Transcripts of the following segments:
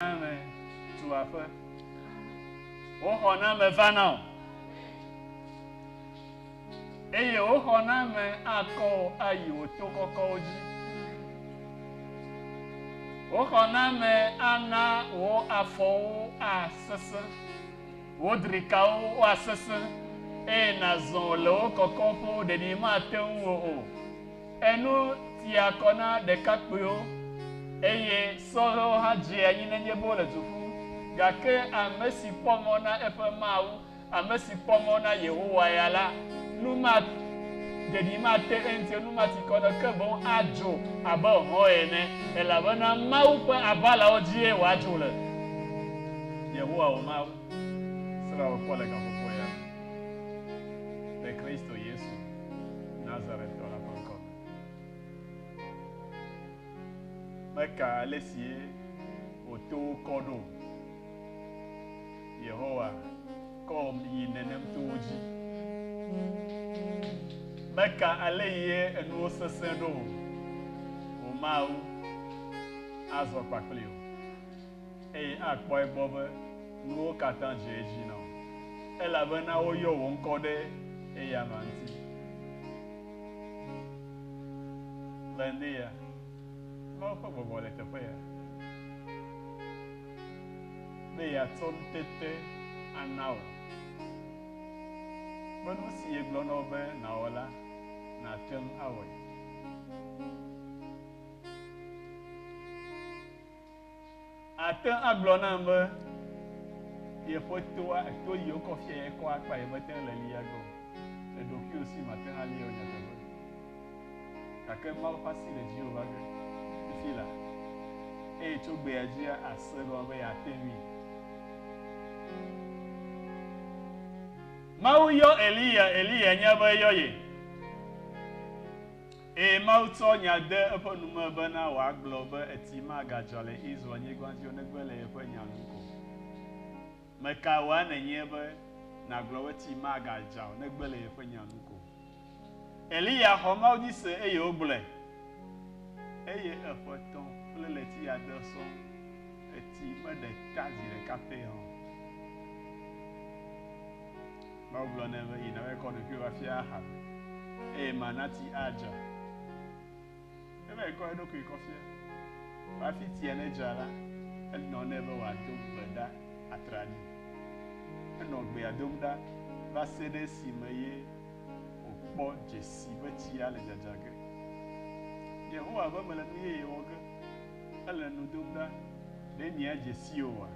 Ame tu aƒe. Wo xɔ na ame va na o. Eye wo xɔ na ame akɔ o ayi wò to kɔkɔwo dzi. Wo xɔ na ame ana wò afɔwo asesẽ. Wò drikawo woasesẽ eye nàzɔ le wo kɔkɔƒewo ɖeɖi mate ŋu o. Enu tia kɔ na ɖekakpuiwo, eye sɔhɛwo hã dzea anyi nenye be wole du ƒum. Gake ame si kpɔ mɔ na eƒe Mawu, ame si kpɔ mɔ na Yehowa ya la, nu maɖeɖi mate eŋuti o, nu mati kɔ na o, ke boŋ adzo abe hɔ̃ ene, elabena Mawu ƒe aʋalawo dzie wòadzo le. Yehowa wò Mawu srɔ̃a wò kpɔ le gaƒoƒoea me le Kristo Yesu. Nazaretɔ la ƒe ŋkɔ me. Meka ale si wòto wo kɔ ɖo o. Yehowa kɔm yi nenem to wo dzi. Meka ale yi enuwo sesẽ ɖo o. Wò Mawu azɔ kpakpli wò. eye akpɔ egbɔ be nuwo katã dze edzi na wò, elabena woyɔ wò ŋkɔ ɖe eyama ŋuti. Le ŋde ya, Mawu ƒe gbɔgbɔ le teƒe ya, be yeatsɔ ŋutete ana wò, be nusi yegblɔ na wò be nàwɔ la, nàte ŋu awɔe. Àte ŋu agblɔ nam be yeƒe toa, to yi wokɔ fia ye kɔa akpa ye mete ŋu le li age o. Le ɖokuiwò si màte ŋu alie o nyateƒe. Gake Mawu ƒe asi le dziwò va ge fifi la, eye tso gbea dzia àse egɔme be yeate ŋui. Mawu yɔ Eliya, Eliya nya be eyɔ ye. Eye Mawu tsɔ nya de eƒe nu me bena wòagblɔ be eti magadzɔ le Israel-nyigba dzi o negbe le yeƒe nya nu ko. Mekae wòae nènye be nàgblɔ be eti magadzɔ o negbe le yeƒe nya nu ko? Eliya xɔ Mawu dzi se eye wògblɔe. Eye eƒe tɔ̃ kple ɣleti ade sɔŋ, eti meɖe ta zi ɖeka pɛ hã o. Mawu gblɔ nɛ be, Yi nàvae kɔ ɖokuiwò afia Ahab, eye mana ti adzra. Eva yi kɔ eɖokui kɔ fia. Vɔ hafi tia nedzra la, enɔ nɛ be wòado gbe ɖa atraɖii. Enɔ gbea dom ɖa va se ɖe esime ye wòkpɔ dzesi be tsia le dzadzra ge. Yehowa be mele nu yeye wɔ ge, ele nu dom ɖa. Ɖe mìadze sii oa?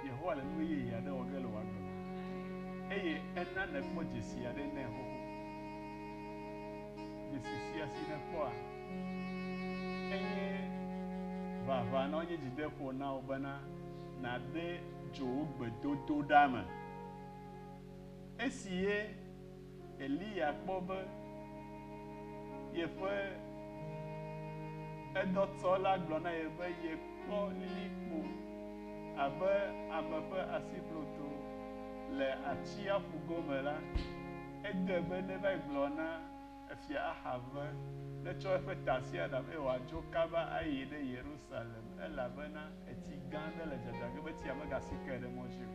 Yehowa le nu yeye aɖe wɔ ge le wò agbe me, eye ena nèkpɔ dzesi aɖe nɛ xoxo. Dzesi sia si nèkpɔa, enye ʋaʋã na wò, enye dzideƒo na wò bena nàde dzo wò gbedodoɖa me. Esi ye Eliya kpɔ be yeƒe edɔtsɔ la gblɔ na ye be yekpɔ lilikpo abe ame ƒe asibloto le atsiaƒu gome la, edoe be neva yi gblɔ na Efia Ahab be netsɔ eƒe tasiaɖam eye wòadzo kaba ayi ɖe Yerusalem elabena Etsi gã aɖe le dzadzam ge be tsia megasi ke ɖe mɔ dzi o.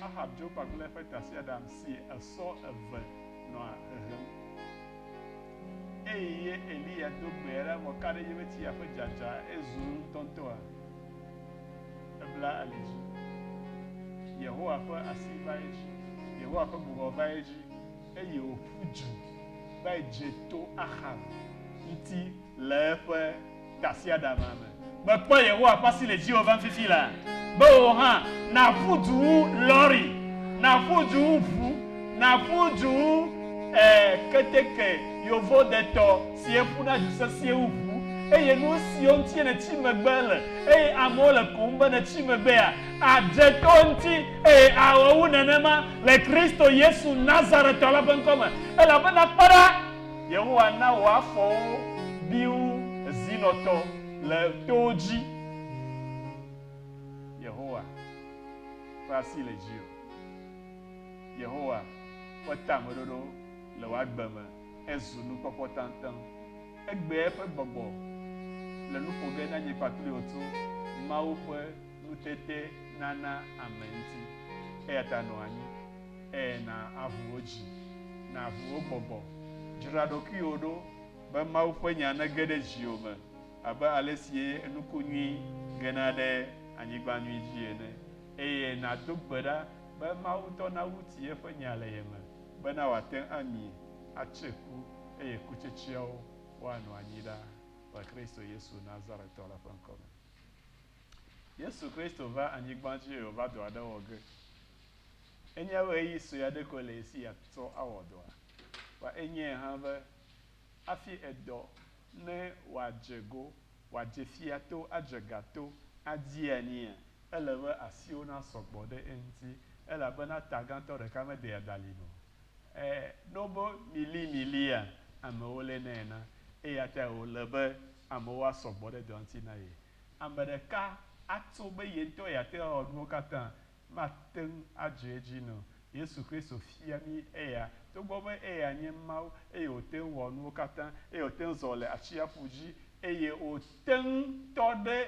Ahab dzo kpakple eƒe tasiaɖam si esɔ eve nɔ hehem, eye Eliya do gbe aɖe vɔ ka ɖe edzi be tsia ƒe dzadza ezu ŋutɔŋutɔa, ebla ali dzi. Yehowa ƒe asi va edzi, Yehowa ƒe gbɔgbɔ va edzi, eye wòƒu du va dze to Ahab ŋuti le eƒe Tasiaɖamea me. Mekpɔ Yehowa ƒe asi le dziwò vam fifi laa, be wò hã nàƒu du wu lɔri, nàƒu du wu ʋu, nàƒu du wu, ɛɛ, keteke yovodetɔ si'e ƒuna du sesĩe wu ʋu, eye nusiwo ŋutie nètsi megbe le, eye amewo le koŋ be nètsi megbea, àdze to eŋuti, eye awɔ wu nenema, le Kristo Yesu Nazaretɔ la ƒe ŋkɔ me. Elabena kpɔ ɖa! Yehowa na wò afɔwo bi wu zinɔtɔ le towo dzi. Yehowa ƒe asi le dziwò. Yehowa ƒe tameɖoɖo le wò agbe me hezu nukpɔkpɔ taŋtaŋ. Egbea eƒe gbɔgbɔ le nu ƒo ge na nye kpakple wò tso Mawu ƒe nutetenana ame ŋuti. Eyata nɔ anyi. Eye na aʋu wò dzi, na aʋu wò gbɔgbɔ. Dzra ɖokuiwò ɖo be Mawu ƒe nya nege ɖe dziwò me abe alesi nuku nyui gena ɖe anyigba nyui dzi ene, eye nàdo gbe ɖa be Mawu ŋutɔ nawu ti eƒe nya le ye me bena wòate ŋu ami, atse ku, eye kutsetseawo woanɔ anyi ɖaa le Kristo Yesu Nazaretɔ la ƒe ŋkɔ me. Yesu Kristo va anyigba dzi eye wòva dɔ aɖe wɔ ge. Enye ɣeyiɣi sue aɖe koe le esi yeatsɔ awɔ dɔa? Kpɔ enyee hã be hafi edɔ ne wòadze go, wòadze fia to, adze ga to, adi anyia, ele be asiwo nasɔ gbɔ ɖe eŋuti, elabena ta gãtɔ ɖeka meɖea dalin o. Ẽ, ne wobe mili milia, amewo lénɛ na, eya tae wòle be amewo asɔ gbɔ ɖe dɔa ŋuti na ye. Ame ɖeka atso be ye ŋutɔ yeate ŋu awɔ nuwo katã mate ŋu adze edzi nɛ o. Yesu Kristo fia mí eya. Togbɔ be eya nye Mawu eye wòte ŋu wɔ nuwo katã, eye wòte ŋu zɔ le atsiaƒu dzi, eye wòte ŋu tɔ ɖe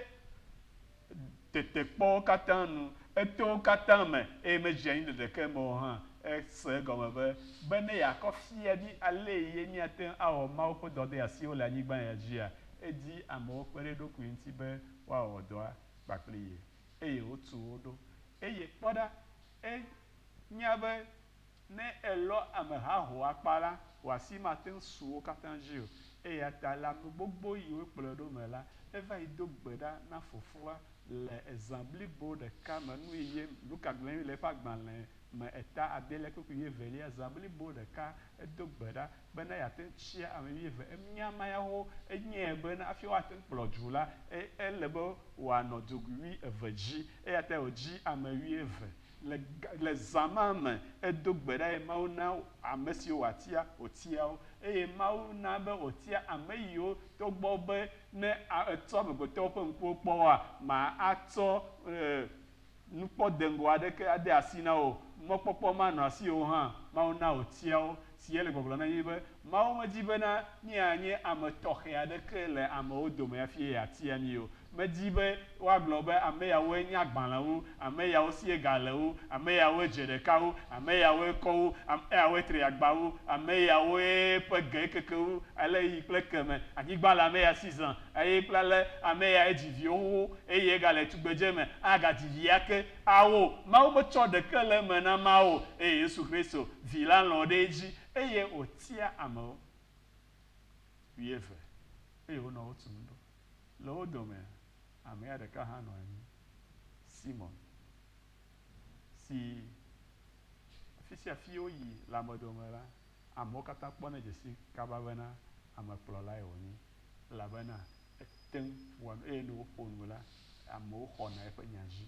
tetekpɔwo katã nu, etowo katã me, eye medze anyi le ɖeke me o hã, ese egɔme be, be ne yeakɔ fia mí alee ye míate ŋu awɔ Mawu ƒe dɔdeasiwo le anyigba ya dzia, edi amewo kpe ɖe eɖokui ŋuti be woawɔ dɔa kpakple ye. eye wotu wo ɖo. Eye kpɔ ɖa, ènya be ne èlɔ ame haho akpa la, wò asi mate ŋu su wo katã dzi o. Eya ta le ame gbogbo yi wokplɔe ɖo me la, eva yi do gbe ɖa na fofoa le zã blibo ɖeka me nu eye Luka gblɔe le eƒe agbalẽ me eta adelia kple wuieveliazã blibo ɖeka edo gbe ɖa bene yeate ŋu tsia ame wuieve. Emia ma ya wo enyae bene hafi woate ŋu kplɔ du la, ele be wòanɔ dogui wuieve dzi. Eya tae wòdzi ame wuieve. Le, le zã ma me, edo gbe ɖa eye Mawu na ame siwo wòatia, wòtia wo. Eye Mawu na be wòtia ame yiwo, togbɔ be ne etsɔ amegbetɔwo ƒe ŋkuwo kpɔ woa, ma atsɔ, e, Nukpɔ deŋgɔ aɖeke ade asi na wò, mɔkpɔkpɔ manɔ asiwò hã. Mawu na wòtia wo. Si yele gbɔgblɔm na mí nye be, Mawu medi bena míanye ame tɔxɛ aɖeke le amewo dome hafi ye yeatia mí o. Medi be woagblɔ be, Ameyawoe nye agbalẽwo, ameyawo sie ga le wo, ameyawoe dze ɖeka wo, ameyawoe kɔ wo, ameyawoe tri agba wo, ameyawoe ƒe ge keke wo ale yi kple ekeme. Anyigba le ameya si zã. Eye kple ale ame ya edzi viwo xoxo, eye egale tugbedze me, agadzi vi ake, ao, Mawu metsɔ ɖeke le eme na ma o, eye Yesu Kristo, Vi la lɔ̃ ɖe edzi, eye wòtia amewo. Wuieve, eye wonɔ wo tum ɖo. Le wo domea, amea ɖeka hã nɔ anyi, Simɔn, si afi sia afi woyi le ame dome la, amewo katã kpɔnɛ dze sii kaba bena amekplɔlae wònye. elabena ete ŋu wɔa nu eye ne wòƒo nu la, amewo xɔna eƒe nya dzi.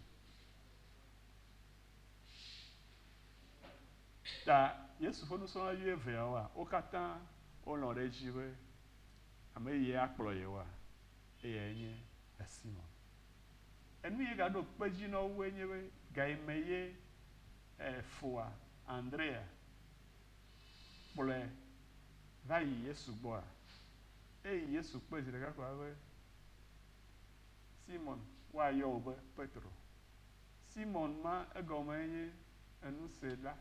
Ta Yesu ƒe nusrɔ̃la wuieveawoa, wo katã wolɔ̃ ɖe edzi be ame ye akplɔ yewoa? Eyae nye Simon. Enu ye gaɖo kpe edzi na woe nye be, Gayime ye foa Andrea? kplɔe va yi Yesu gbɔa? Eyi Yesu kpe zi ɖeka ko va be, Simon, woayɔ wò be Petro. Simon ma egɔmee nye Enusela,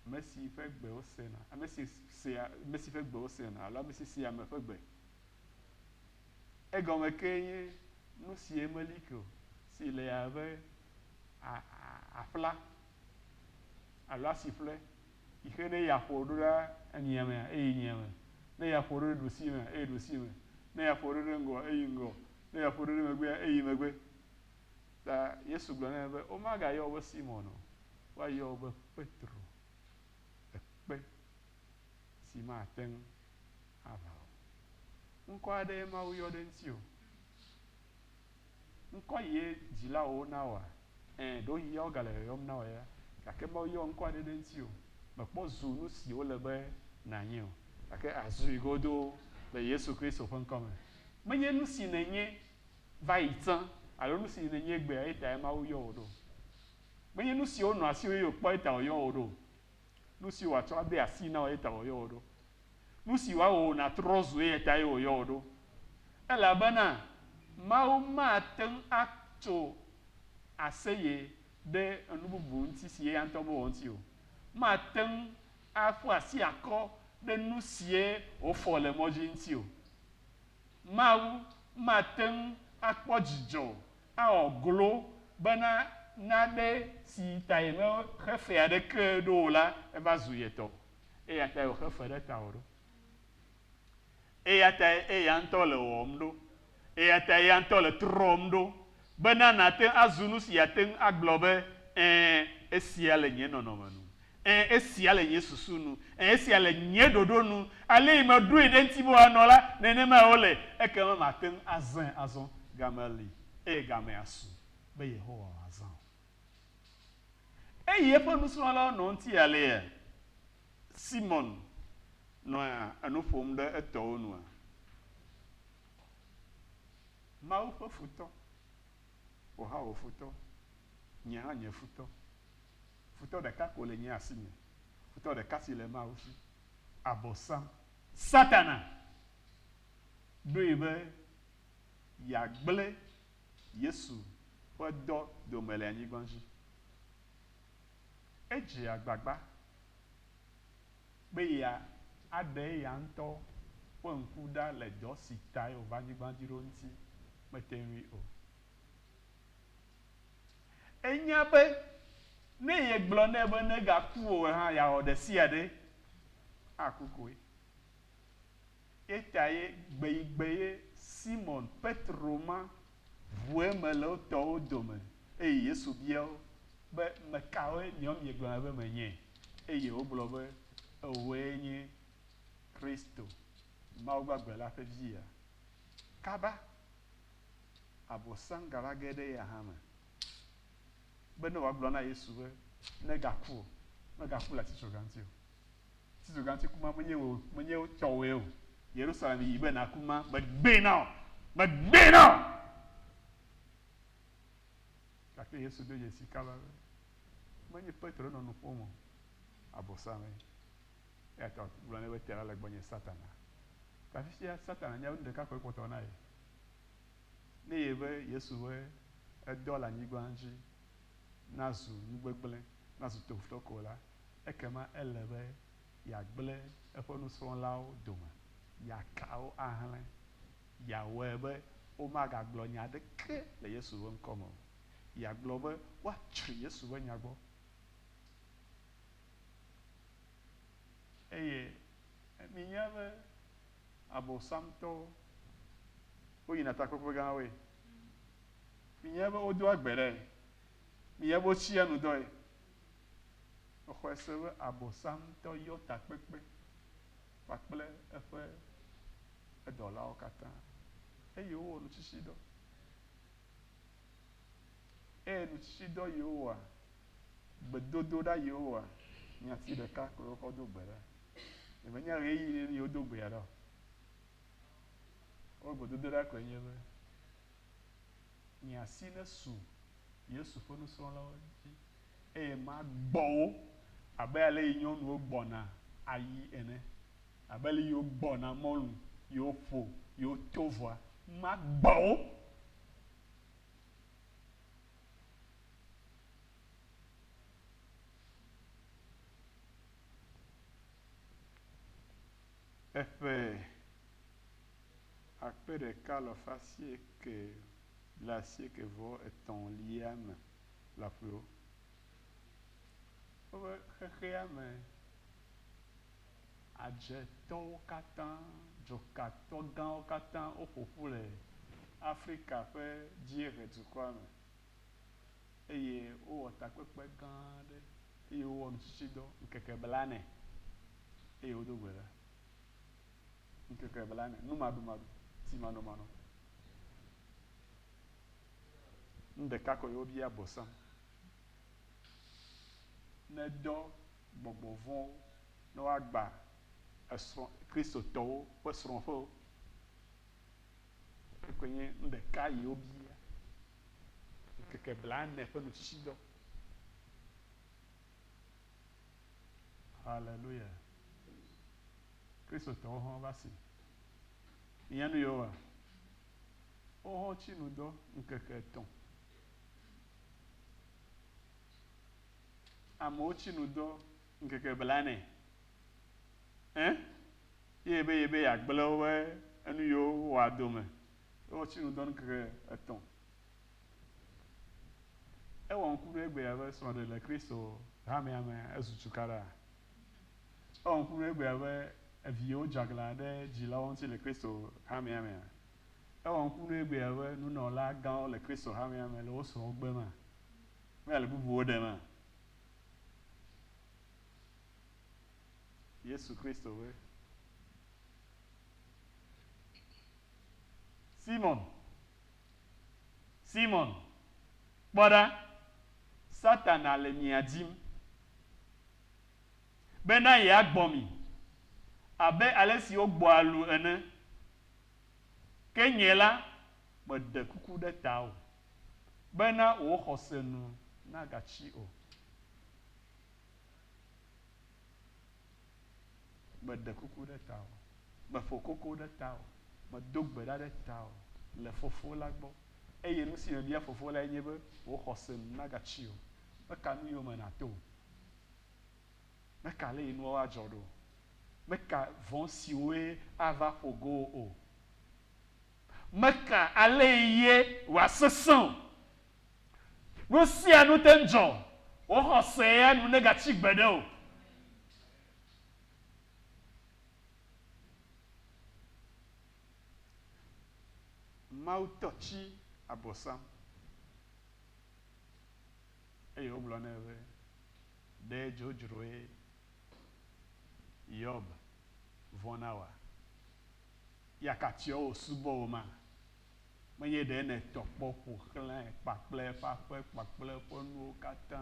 ame si ƒe gbe wosena, ame si sea, ame si ƒe gbe wosena, alo ame si sea ame ƒe gbe. Egɔme kee nye nu sie meli ke o, si le abe aƒla alo asi ƒle, yi xe ne yeaƒo ɖo ɖe anyia me, eyi nyia me, ne yeaƒo ɖo ɖe ɖusi me, eyi ɖusi me, ne yeaƒo ɖo ɖe ŋgɔ, eyi ŋgɔ, ne yeaƒo ɖo ɖe megbea, eyi megbe. Ta Yesu gblɔ nɛ be, Womagayɔ wò be Simɔn o, woayɔ wò be Petro, ekpe si mate ŋu aʋã o. Ŋkɔ aɖee Mawu yɔ ɖe ŋutiwò. Ŋkɔ yee dzilawowo na woa? Ẽ, ɖewohĩ ya wogale yɔyɔm na wò ya, gake Mawu yɔ ŋkɔ aɖe ɖe ŋutiwò. Mèkpɔ zu nu si wole be nànye o, gake àzui godoo le Yesu Kristo ƒe ŋkɔ me. Menye nu si nènye va yi tsã alo nu si nènye egbea ye tae Mawu yɔ wò ɖo. Menye nu siwo nɔ asiwò eye wòkpɔe ta wòyɔ wò ɖo o. Nu si wòatsɔ ade asii na wò ye ta wòyɔ wò ɖo. Nu si wòawɔ wò nàtrɔ zu eya tae wòyɔ wò ɖo. Elabena Mawu mate ŋu atso aseye ɖe enu bubu ŋuti si eya ŋutɔ mewɔ ŋuti o. Mate ŋu aƒu asi akɔ ɖe nu sie wòfɔ le mɔ dzi ŋuti o. Mawu mate ŋu akpɔ dzidzɔ Ewɔ glo bena naɖe si ta yemexe fe aɖeke ɖo o la, eva zu ye tɔ, eya tae wòxe fe ɖe tawò ɖo. Eya tae eya ŋutɔ le wɔwɔm ɖo. Eya tae eya ŋutɔ le trɔm ɖo bena nàte ŋu azu nu si yeate ŋu agblɔ be, Ẽ, esia le nye nɔnɔme nu. Ẽ, esia le nye susu nu. Ẽ, esia le nye ɖoɖo nu. Alesi meɖoe ɖe eŋuti be wòanɔ la, nenemae wòle. Ekema mate ŋu azãe azɔ. Game li, eye gamea asu, be Yehowa wòazã o. Eyi eƒe nusrɔ̃lawo nɔ eŋuti alea? Simɔn nɔ enu ƒom ɖe etɔwo nua? Mawu ƒe futɔ. Wò hã wò futɔ. Nye hã nye futɔ. Futɔ ɖeka ko le nye asi me, futɔ ɖeka si le Mawu si, Abosam. Satana ɖoe be yeagblẽ Yesu ƒe dɔ dome le anyigba dzi. Edze agbagba be ye aɖe eya ŋutɔ ƒe ŋku ɖa le dɔ si tae wòva anyigba dzi ɖo ŋuti. Mete ŋui o. Enya be ne yegblɔ nɛ be negaku o hã, yeawɔ ɖesiaɖe aku koe. Eyatae gbeyigbee ye Simɔn Petro ma ʋu eme le wo tɔwo dome eye Yesu bia wo be, Mekawoe miawo miegblɔna be menye? Eye wogblɔ be, Ewòe nye Kristo, Mawu gbagbe la ƒe Via. Kaba! abosangala ge ɖe eya hã me be ne wòagblɔ na Yesu be negaku o, megaku le atitsoga ŋuti o. Atitsoga ŋuti ku ma menye wò menye tɔwòe o. Yerusalem yi be nàku ma megbee na wò, megbee na wò. Gake Yesu ɖo dzesi kaba be menye Petro nɔ nu ƒom o, abosame. Eya ta wògblɔ nɛ be te la le gbɔnye Satana. Gafifia Satana nya be nu ɖeka koe kpɔtɔ wòna ye. Ne ye be Yesu be edɔ le anyigba dzi nazu nu gbegblẽ, nazu tofutɔ ko la, ekema ele be yeagblẽ eƒe nusrɔ̃lawo dome, yeaka wo ahlẽ, yeawɔe be womagagblɔ nya aɖeke le Yesu ƒe ŋkɔ me o, yeagblɔ be woatsri Yesu ƒe nya gbɔ. Eye minya be Abɔsamtɔwo, woyina takpekpe gãwoe. Minya be wodoa gbe ɖae. Minya be wotsia nu dɔe. Mexɔe se be Abɔsamtɔ yɔ takpekpe kpakple eƒe edɔlawo katã, eye wowɔ nutsitsidɔ. Eye nutsitsidɔ Yehowa, gbedodoɖa Yehowa, nyati ɖeka koe wokɔ do gbe ɖa. Ɖe menye ɣeyiɣi ɖe ye wodo gbea ɖa o. Woƒe gbedodoɖa koe nye be, Nye asi nesu Yesu ƒe nusrɔ̃lawo dzi eye magbɔ wo abe ale yi nyɔnuwo gbɔna ayi ene, abe ale yi wogbɔna mɔlu, yi woƒo, yi woto vɔa, magbɔ wo Eƒe akpe ɖeka alafa asieke blaasieke vɔ etɔ̃lia me lɔƒo. Woƒe xexeame. Adjetɔwo katã, dzokatɔ gãwo katã woƒo ƒu le Afrika ƒe dzieʋedukɔa me, eye wowɔ takpekpe gã aɖe, eye wowɔ nutsitsidɔ ŋkeke blane, eye wodo gbe ɖa ŋkeke blane, numaɖumaɖu, timanɔmanɔ. Nu ɖeka koe wobia bosam. nedɔ gbɔgbɔ vɔ̃wo ne woagbã esrɔ̃, Kristotɔwo ƒe srɔ̃ƒewo. Ekɔe nye nu ɖeka yi wobia, ŋkeke blaene ƒe nutsitsidɔ. Haleluya! Kristotɔwo hã va si. Mìnya nu yewoa? Woawo hã wotsi nu dɔ ŋkeke etɔ̃ Amewo tsi nu dɔ ŋkeke blaene ẽ ye ebe ye be ya gble wobe enu yiwo wo wɔa dome. Ye wo tsi nu dɔ ŋkeke etɔ. E wɔ ŋku ɖo egbea be srɔ ɖe le Kristo hamea me ezu cukaɖa. E wɔ ŋku ɖo egbea be eviwo dze aglã ɖe dzilawo ŋuti le Kristo hamea mea. Ewɔ ŋku nɛ egbea be nunɔla gãwo le Kristo hamea me le wo srɔ̃wo gbe ma, kple le bubuwo ɖe ma. Yesu Kristo be, Simon, Simon, kpɔ ɖa, Satana le mia dim. bena yeagbɔ mi abe ale si wogbɔa lu ene. Ke nye la, meɖe kuku ɖe tawò bena wò xɔse nu nagatsi o. Meɖe kuku ɖe tawò, meƒo koko ɖe tawò, medo gbe ɖa ɖe tawò le Fofo la gbɔ, eye nusi mebia Fofo lae nye be wò xɔse nu nagatsi o. Meka nu yome nàto o. Meka ale yi nuawo adzɔ ɖo. Meka vɔ̃ siwoe ava ƒo go wò o. Meka ale yi ye wòasesẽ o. Nu sia nu te ŋu dzɔ. Wò xɔse ya nu negatsi gbeɖe o. Mawu tɔ tsi abɔ sam. eye wogblɔ nɛ be, Ɖe dzodzroe Yob vɔ̃na oa? Ya ka tsiɔ wòsubɔ wò ma? Menye ɖe nètɔ kpɔ ƒo xlãe kpakple eƒe aƒe kpakple eƒe nuwo katã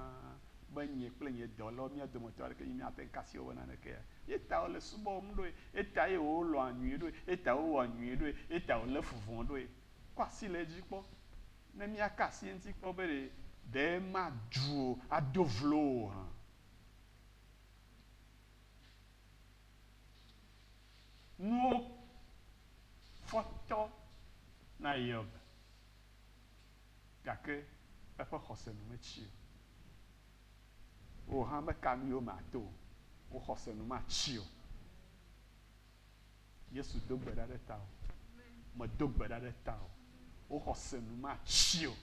be nye kple nye dɔlawo, mía dometɔ aɖeke nye míate ŋu kasi wò be nanekea? Eya ta wole subɔm ɖoe, eya tae wolɔ̃a nyui ɖoe, eya ta wowɔa nyui ɖoe, eya ta wolé fu vɔ̃ ɖoe. Kɔ asi le edzi kpɔ, Ne míaka asi eŋuti kpɔ be ɖe madu o, ado vlo o hã, nuwo fɔ tɔ na Hiob, gake eƒe xɔse nu metsi o. Wò hã meka nu yewo me ato o, wò xɔse nu matsi o. Yesu do gbe ɖa ɖe ta o. Medo gbe ɖa ɖe ta o. Wo xɔse nu matsi o.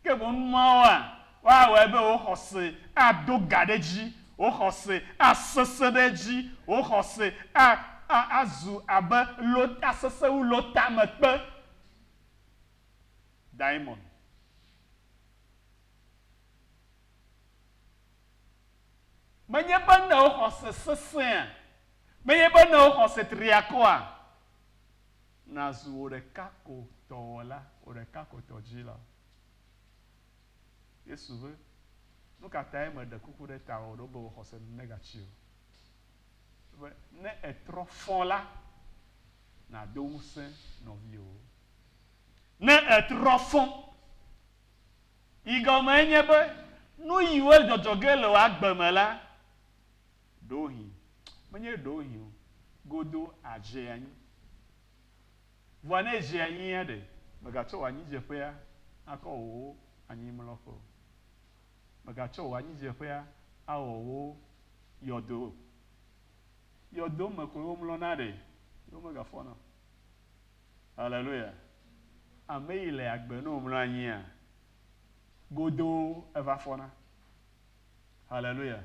Ke boŋ numawoa, woawɔe be wo xɔse ado ga ɖe edzi, wo xɔse asesẽ ɖe edzi, wo xɔse a, a, azu abe lo, asesẽ wu lotamekpe. Daimɔn. Menye be nèo xɔse sesẽa? Menye be nèo xɔse triakɔa? Nàzu wò ɖeka ko tɔ wɔla, wò ɖeka ko tɔ dzila. Yesu be, Nu ka tae meɖe kuku ɖe tawò ɖo be wò xɔse negatsi o? Be, ne ètrɔ fɔ la, nàdo ŋusẽ nɔviwò. Ne ètrɔ fɔ. yi gɔmee nye be nuyiwo dzɔdzɔ ge le wò agbe me la, ɖewohĩ, menye ɖewohĩ o, godoo adze anyi. Vɔa ne edze anyia ɖe, mègatsɔ wò anyidzeƒea akɔ wò anyimlɔƒe o. Mègatsɔ wò anyidzeƒea awɔ wò yɔdo o. Yɔdo me koe womlɔna ɖe, ye womegafɔna o. Haleluya! Ame yi le agbe ne womlɔ anyia, godoo eva fɔna. Haleluya!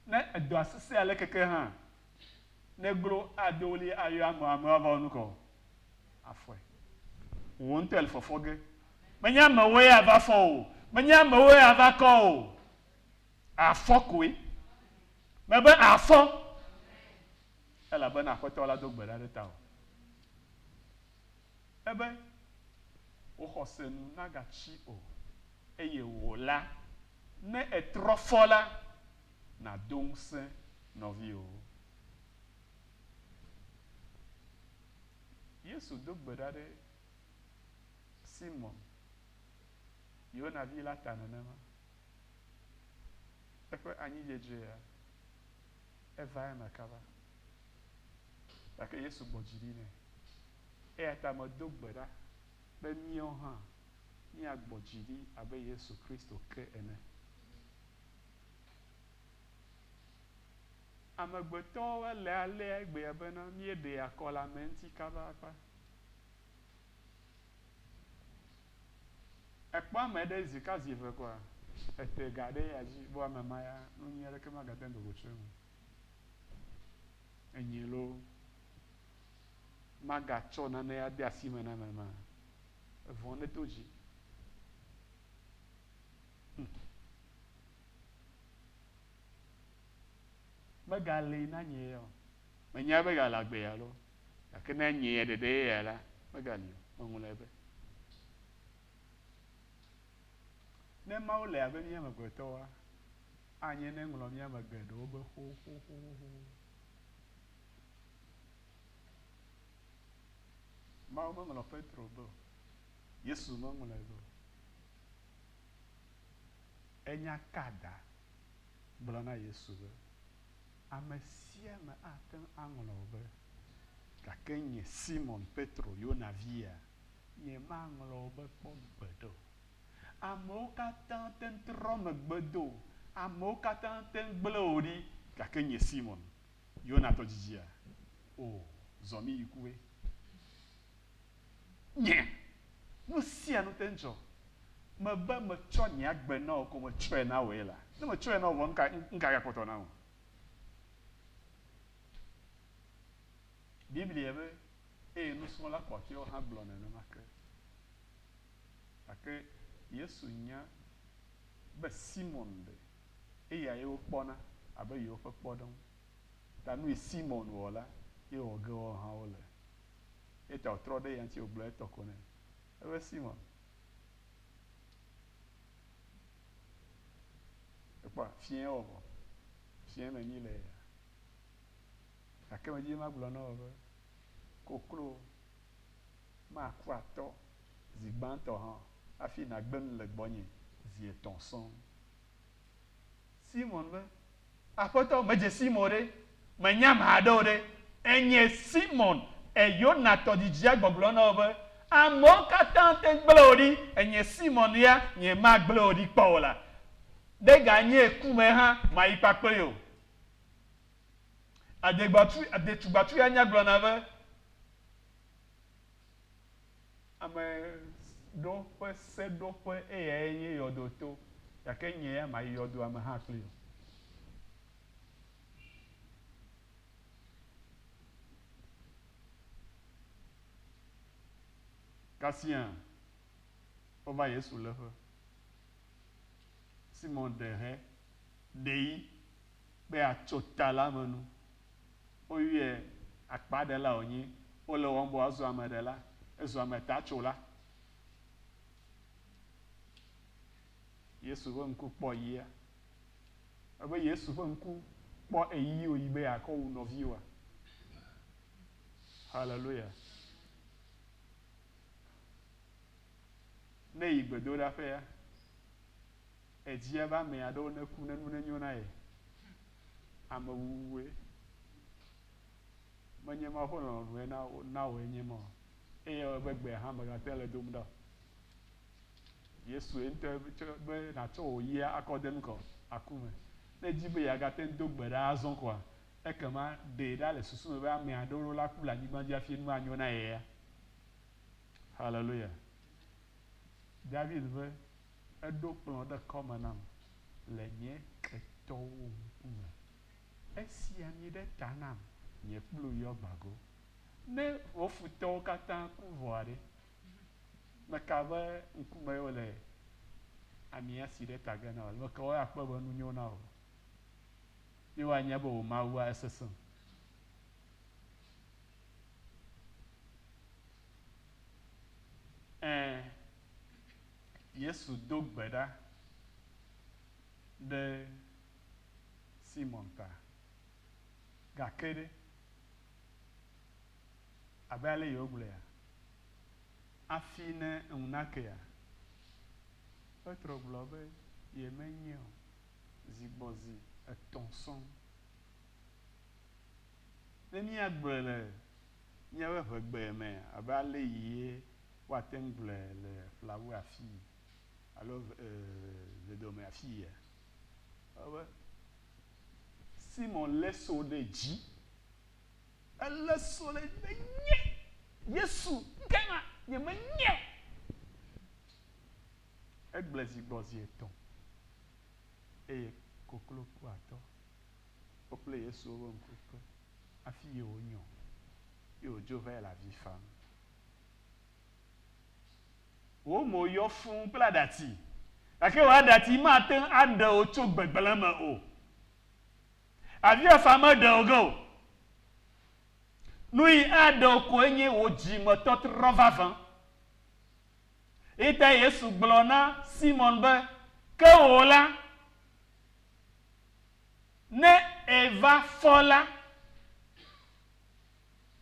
Ne edɔa sesẽ alekeke hã, ne eglo ado ɣli ayɔ amewo, amewo ava wɔ nukɔ, afɔe. Wò ŋutɔ ele fɔfɔ ge. Menye amewoe ava fɔ wò o, menye amewoe ava kɔ wò o. Àfɔ koe. Mebe àfɔ. elabena Aƒetɔ la do gbe ɖa ɖe tawò. Ebe, Wò xɔse nu nagatsi o, eye wò la, ne ètrɔ fɔ la, nàdo ŋusẽ nɔviwòwo. Yesu do gbe ɖa ɖe Simɔn, Yona vi la ta nenema. Eƒe anyidzedzea? Eva eme kaba, gake Yesu gbɔ dzi ɖi nɛ. Eya ta medo gbe ɖa be míawo hã míagbɔ dzi ɖi abe Yesu Kristo ke ene. Amegbetɔwo alea léa egbea bena míeɖea kɔlameŋti kaba akpa. Èkpɔ ame ɖe zi ka zi eve koa? Ète ga ɖe eya dzi be ame ma ya, nu nyui aɖeke magate ŋu wòtso eme o. Enye loo, magatsɔ nane ade asi me na ame ma. Evɔ̃ ɖe to dzi. Hm. Megalée na nye ya o. Menyae be egalé agbe ya loo. Gake ne enye ya ɖeɖe ye ya la, megali o. Meŋlɔe be. Ne Mawu le abe mía amegbetɔwoa, anye ne eŋlɔ mía ame geɖewo be xoxoxoxo. Mawu meŋlɔ Petro be o. Yesu meŋlɔe be o. Enya ka da gblɔ na Yesu be, Ame sia ame ate ŋu aŋlɔ wò be, Gake nye Simon Petro, Yona via, nyemaŋlɔ wò be kpɔ gbeɖe o. Amewo katã te ŋu trɔ megbe do wò, amewo katã te ŋu gblẽ wò ɖi, gake nye Simon, Yona tɔdzidzia, o, zɔ mí yi kue. Nye! Nu sia nu te dzɔ. Mebe metsɔ nye agbe na wò ko metsɔe na wòe la, ne metsɔe na wò vɔ nuka nuka gakpɔtɔ na wò? Biblia be, Eye nusrɔ̃la kpɔtɔewo hã gblɔ nenema ke. Gake Yesu nya be Simɔn ɖe eya ye wokpɔna abe yewoƒe kpɔɖeŋu, ta nui Simɔn wɔ la ye wòge woawo hã wole. Eya ta wòtrɔ ɖe ya ŋuti wògblɔ etɔ ko nɛ. Ebe, Simɔn, èkpɔa? Fiẽ wɔ vɔ. Fiẽ me nyui le eya. Gake medi be magblɔ na wò be, koklo maku atɔ zi gbãtɔ hã o hafi nàgbe nu le gbɔnye zi etɔ̃ sɔŋ. Simɔn be, Aƒetɔ, medze sim o ɖe, menye ame aɖe o ɖe. Enye Simɔn, Yona tɔdzidzia gbɔgblɔ na wò be, Amewo katã te gblẽ wò ɖi, enye Simɔn ya nyemagblẽ wò ɖi kpɔ o la, ne ganye ku me hã, mayi kpakple wò. Adetugbatsuya nya gblɔna be, Ame ɖewo ƒe seɖoƒe eyae nye yɔdo to, gake nye ya mayi yɔdoa me hã kpli o. Kasia wova Yesu léƒe. Simɔn ɖe he ɖe yi be yeatso ta la me nu. woyɔe akpaɖela wònye, wole wɔm be wòazu ameɖela, ezu ametatsola. Yesu ƒe ŋku kpɔ yia? Ebe Yesu ƒe ŋku kpɔ ɣeyiɣi wòyi be yeakɔ wu nɔviwoa? Haleluya! Ne yi gbedoɖaƒea, Edzia be ame aɖewo neku ne nu nenyo na ye. Amewuwue. Menye Mawu ƒe lɔlɔ̃nue na wo na wòe nye ema o. Eye ewɔe be gbea hã mègate ŋu le dom ɖa o. Yesue ŋutɔe be nàtsɔ wò yia akɔ de nu ka o? Aku me. Ne èdi be yeagate ŋu do gbe ɖa azɔ koa, ekema ɖee ɖa le susu me be ame aɖewo la ku le anyigba dzi hafi nu anyo na yea? Haleluya! David be, Eɖo kplɔ̃ ɖe kɔme nam le nye ketɔwo ŋkume. Esi ami ɖe ta nam, nye kplu yɔ gbago. Ne wò futɔwo katã ku vɔa ɖe? Meka be ŋkumee wole amia si ɖe ta ge na wò le? Meka be woakpɔe be nu nyo na wò, ye woanya be wò Mawua esesẽ. Ẽ. Yesu do gbe ɖa ɖe Simɔn ta. Gake ɖe, abe ale yewogblɔea, afii ne ŋu nakea? Petro gblɔ be yemenyɛ o zi gbɔ zi etɔ̃ sɔŋ. Ne míagblɔe le míaƒe ʋegbe me abe ale yie woate ŋu gblɔe le ƒlawu afii alo vedome afiia? Ebe, Simɔn lé so ɖe dzi. Elé so ɖe dzi be, Nye Yesu, ŋkeke ma, nyemenyeo. Egblẽ zi gbɔ zi etɔ̃ eye koklo ku atɔ. Woƒle Yesu wobe ŋku kpe hafi ye wònyɔ, ye wòdzo vae le avi fam. Wò mo yɔ fũu kple aɖati, gake wò aɖati mate ŋu aɖe wò tso gbegblẽ me o. Aviafa meɖe wò ge o. Nuyi aɖe wò koe nye wò dzimetɔtrɔ vavã. Eya tae Yesu gblɔ na Simɔn be, Ke wò la, ne èva fɔ la,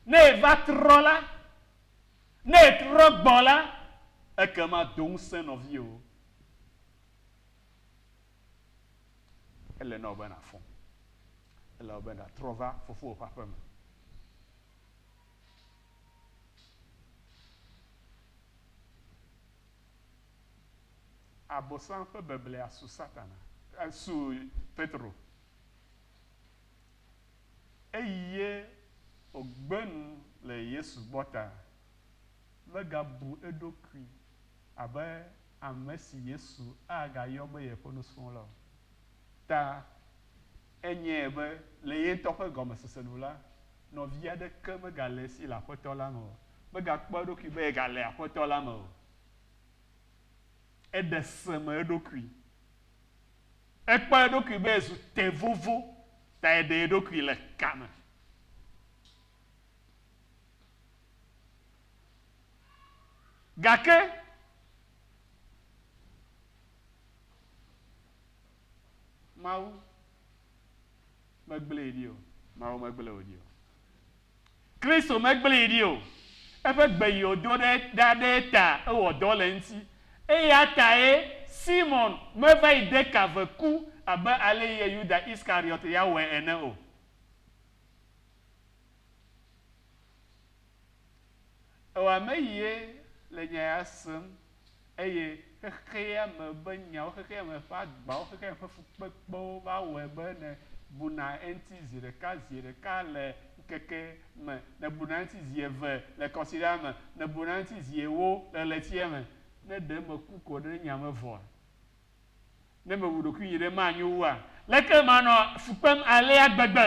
Ne èva trɔ la, ne ètrɔ gbɔ la, ekema do ŋusẽ nɔviwò. Ele na wò be nàfɔ. Ele na wò be nàtrɔ va fofowò ƒe aƒe me. Abosam ƒe beblea su Satana, su Petro. Eye wògbe nu le Yesu gbɔ ta. Megabu eɖokui abe ame si Yesu agayɔ be yeƒe nusrɔ̃la o. Ta enyae be le ye ŋutɔ ƒe gɔmesese nu la, nɔvi aɖeke megale esi le Aƒetɔ la me o. Megakpɔa eɖokui be yegale Aƒetɔ la me o. Eɖe se me eɖokui. Ekpɔ eɖokui be ezu te vovo ta eɖe eɖokui le ka me. Gake Mawu. Megblẽe ɖi o. Mawu megblẽ wò ɖi o. Kristo megblẽe ɖi o. Eƒe gbe yi wòdo ɖe ɖa ɖe eta ewɔ dɔ le eŋuti. Eya tae Simɔn meva yi de ka ve ku abe ale ye Yuda Iskariɔt ya wɔe ene o. Ewa meyie le nya ya sem eye xexea me ƒe nyawo, xexea me ƒe agbawo, xexea me ƒe fukpekpewo va wɔe be nèbuna eŋuti zi ɖeka, zi ɖeka le ŋkeke me, nèbuna eŋuti zi eve le kɔsiɖa me, nèbuna eŋuti zi ewo le ɣletia me. Ne ɖe meku ko ɖe nya me vɔa? Ne mewu ɖokuinye ɖe manyo wua? Leke manɔ fu kpem alea gbegbe?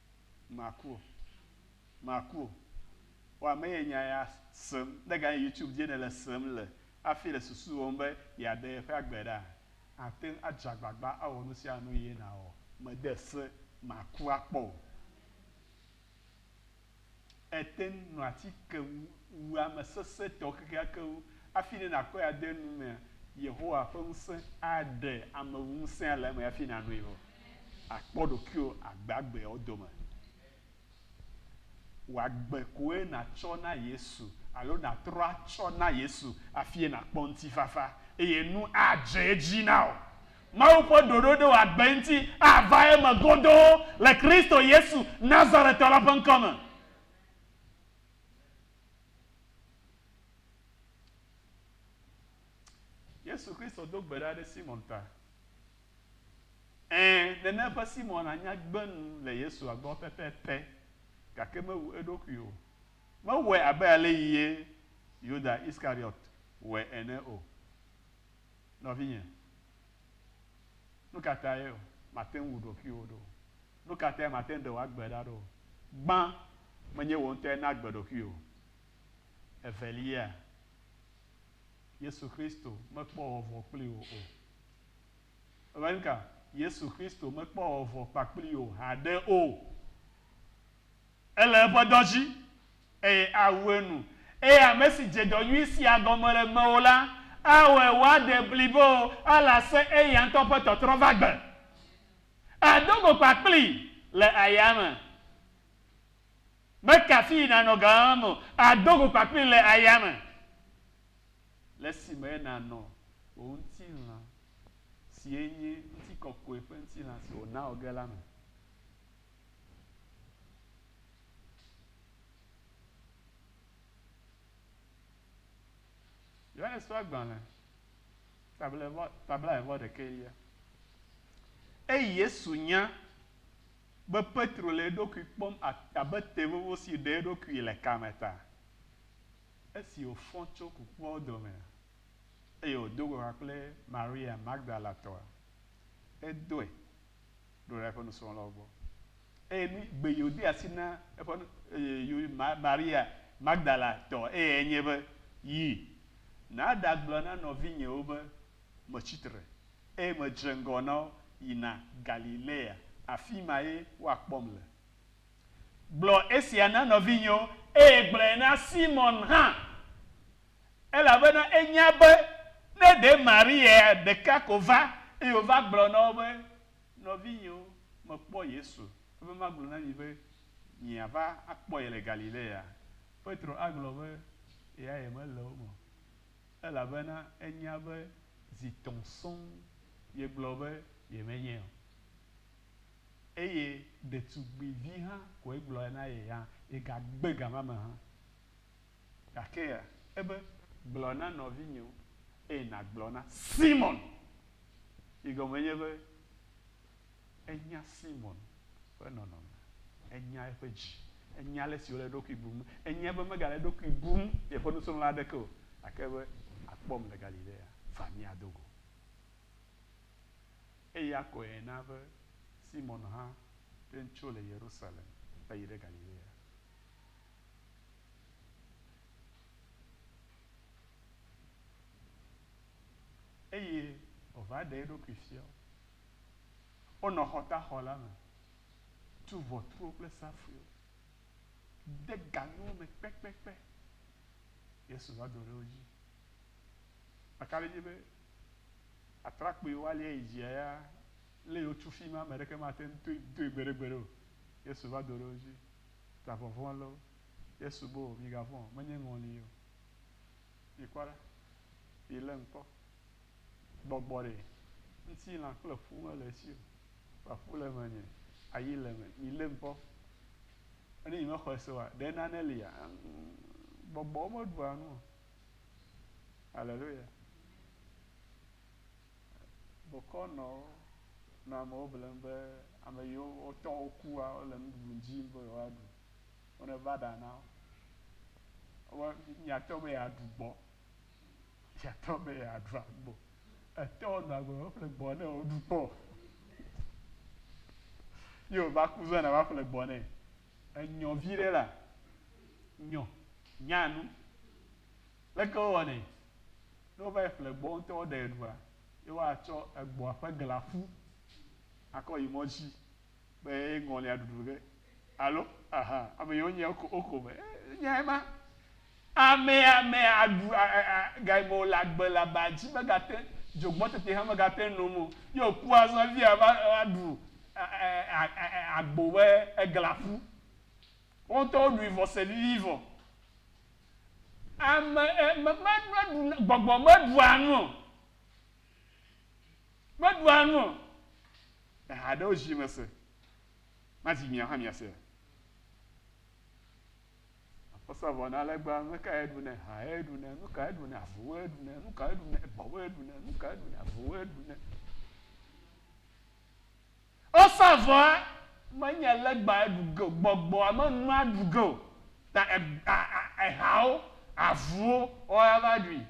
Maku o. Maku o. Wa me ye nya ya sem. Ne ganye YouTube dzie nèle sem le hafi le susu wɔm be yeaɖe yeƒe agbe ɖa, àte ŋu adze agbagba awɔ nu sia nu eye nàwɔ. Mede se makua kpɔ o. Ètɛnŋ nɔ ati ke wu, wu ame sesẽtɔ kekeakewo. Afi nɛ nàkɔe ade nu mea, Yehowa ƒe ŋusẽ aɖe ameŋusẽa le eme hafi nànoe vɔ. Àkpɔ ɖokuiwò agbe agbeawo dome. Wò agbe koe nàtsɔ na Yesu alo nàtrɔ atsɔ na Yesu hafie nàkpɔ ŋutifafa eye nu adze edzi na wò. Mawu ƒe ɖoɖo ɖe wò agbe ŋuti ava eme godoo le Kristo Yesu, Nazaretɔ la ƒe ŋkɔ me. Yesu Kristo do gbe ɖa ɖe Simɔn ta. Ẽ, nene ƒe Simɔn anya gbe nu le Yesua gbɔ pɛpɛpɛ, gake mewu eɖokui o. Mewɔe abe ale yi ye Yuda Iskariot wɔe ene o. Nɔvinye, nu ka tae màte ŋu wu ɖokuiwò ɖo? Nu ka tae màte ŋu ɖe wò agbe ɖa ɖo? Gbã, menye wò ŋutɔe naa agbe ɖokuiwò. Evelia, Yesu Kristo mekpɔ vɔvɔ̃ kpli wò o. Èwɔe nuka? Yesu Kristo mekpɔ vɔvɔ̃ kpakpli wò haɖe o. Ele eƒe dɔ dzi, eye awu enu. Eye ame si dze dɔ nyui sia gɔme le mewò la, awɔe wòaɖe blibo ale ase eya ŋutɔ ƒe tɔtrɔ va gbe. Àdo go kpakplii le ayame. Meka afii nànɔ ga mam o, àdo go kpakplii le ayame, le esime nànɔ wò ŋutilã, si enye ŋutikɔkɔe ƒe ŋutilã si wòna wò ge la me. Yohanes ƒe agbalẽ tablae vɔ ɖekɛ lia. Eyi Yesu nya be Petro le eɖokui kpɔm abe te vovo si ɖe eɖokui le kame ta. Esi wòfɔ tso kukuawo domea, eye wòdo go ha kple Maria Magdalatɔa, edɔe ɖo ɖe eƒe nusrɔ̃lawo gbɔ. Eye nu gbe yi wòde asi na eƒe nu, eye yi ma, Maria Magdala tɔ eyae nye be, Yi, nàɖagblɔ na nɔvinyewo be, Metsi tre, eye medze ŋgɔ na wo yina Galilea, afi mae woakpɔm le. Gblɔ esia na nɔvinyewo, eye gblɔe na Simɔn hã, elabena enya be ne ɖe Maria ɖeka ko va, eye wòva gblɔ na wo be, Nɔvinyewo, mekpɔ Yesu, ebe magblɔ na mi be, Miava akpɔ ye le Galilea. Petro agblɔ be, Eyae mele wo me o, elabena enya be zi tɔ̃ sɔŋ yegblɔ be yemenyee o. eye ɖetugbuivi hã koe gblɔe na ye hã, ye gagbe ga ma me hã. Gake ebe, Gblɔ na nɔvinyewo, eye nàgblɔ na Simɔn. Yi gɔme nye be, enya Simɔn ƒe nɔnɔme, enya eƒe dzi, enya ale si wòle eɖokui bum, enya be megale eɖokui bum yeƒe nusrɔ̃la aɖeke o, gake be, Àkpɔm le Galilea, va mía do go. eye ya kɔe na be Simɔn hã ɖe tso le Yerusalem va yi ɖe Galilea. Eye wòva ɖe eɖokui fia wo. Wonɔ xɔtaxɔ la me, tu ʋɔtruwo kple safuiwo, de ga nuwo me kpekpekpe. Yesu va do ɖe wo dzi. Eka ɖe edzi be, Atrakpui woalia yi dzia ya lé wotsu fima ame ɖeke mate ŋu toe doe gbeɖegbeɖe o. Yesu va do ɖe wo dzi. Ta vɔvɔ̃ lé wo. Yesu be wo, Migavɔ̃ o, menye ŋɔli o. Mikpɔ ɖa, milé ŋkpɔ. Gbɔgbɔ ɖee. Ŋutilã kple ƒu mele esi o. Vɔa ƒu le menye, ayi le eme. Milé ŋkpɔ. Enu yi mexɔe se oa, ɖe nane lia? Ŋ, gbɔgbɔwo meɖua nu o. Aleluya. Bokɔ nɔ wo nɔ amewo blem be ame yiwo wotɔ wokua wole nuɖuɖu dzi be yewoaɖu. Wone va ɖa na wo. Wo miatɔ be yeaɖu gbɔ. Miatɔ be yeaɖu agbo. Etɔ nɔ agbo be ƒle gbɔ ne woɖu kpɔ. Ye wòva ku zɔna va ƒle gbɔ nɛ. enyɔ viɖe la, nyɔ, nya nu. Leke wowɔnɛ? Ne wova yi ƒle gbɔ ŋutɔ woɖae ɖua, ye woatsɔ egbɔ̃a ƒe glã ƒu akɔ yi mɔ dzi be ye ŋɔlia ɖuɖu ge. Alo? Ahan. Ame yi wonyae woko, woko be, Ee, nyae ma. Ame ame aɖu a a a ga yi me wòle agbe le aba dzi megate, dzogbɔ teti hã megate nom o. Ye wòku azɔ evia va va ɖu a a a a a agbo be eglã ƒu. Wo ŋutɔ woɖui vɔ se vivi vɔ. Ame e me me meɖu na gbɔgbɔ meɖua nu o. Meɖua nu o. Eha aɖewo zi mese. Mazi miawo hã miasea? Akpɔsa vɔ na legba, nu ka ye ɖunɛ? Ha ye ɖunɛ, nu ka ye ɖunɛ? Avuwo ye ɖunɛ, nu ka ye ɖunɛ? Ebɔwo ye ɖunɛ, nu ka ye ɖunɛ? Avuwo ye ɖunɛ. Ɔsa vɔa menye legba ye ɖu ge o, gbɔgbɔa menua ɖu ge o. Ta ehawo, avuwo woawo ya va ɖui.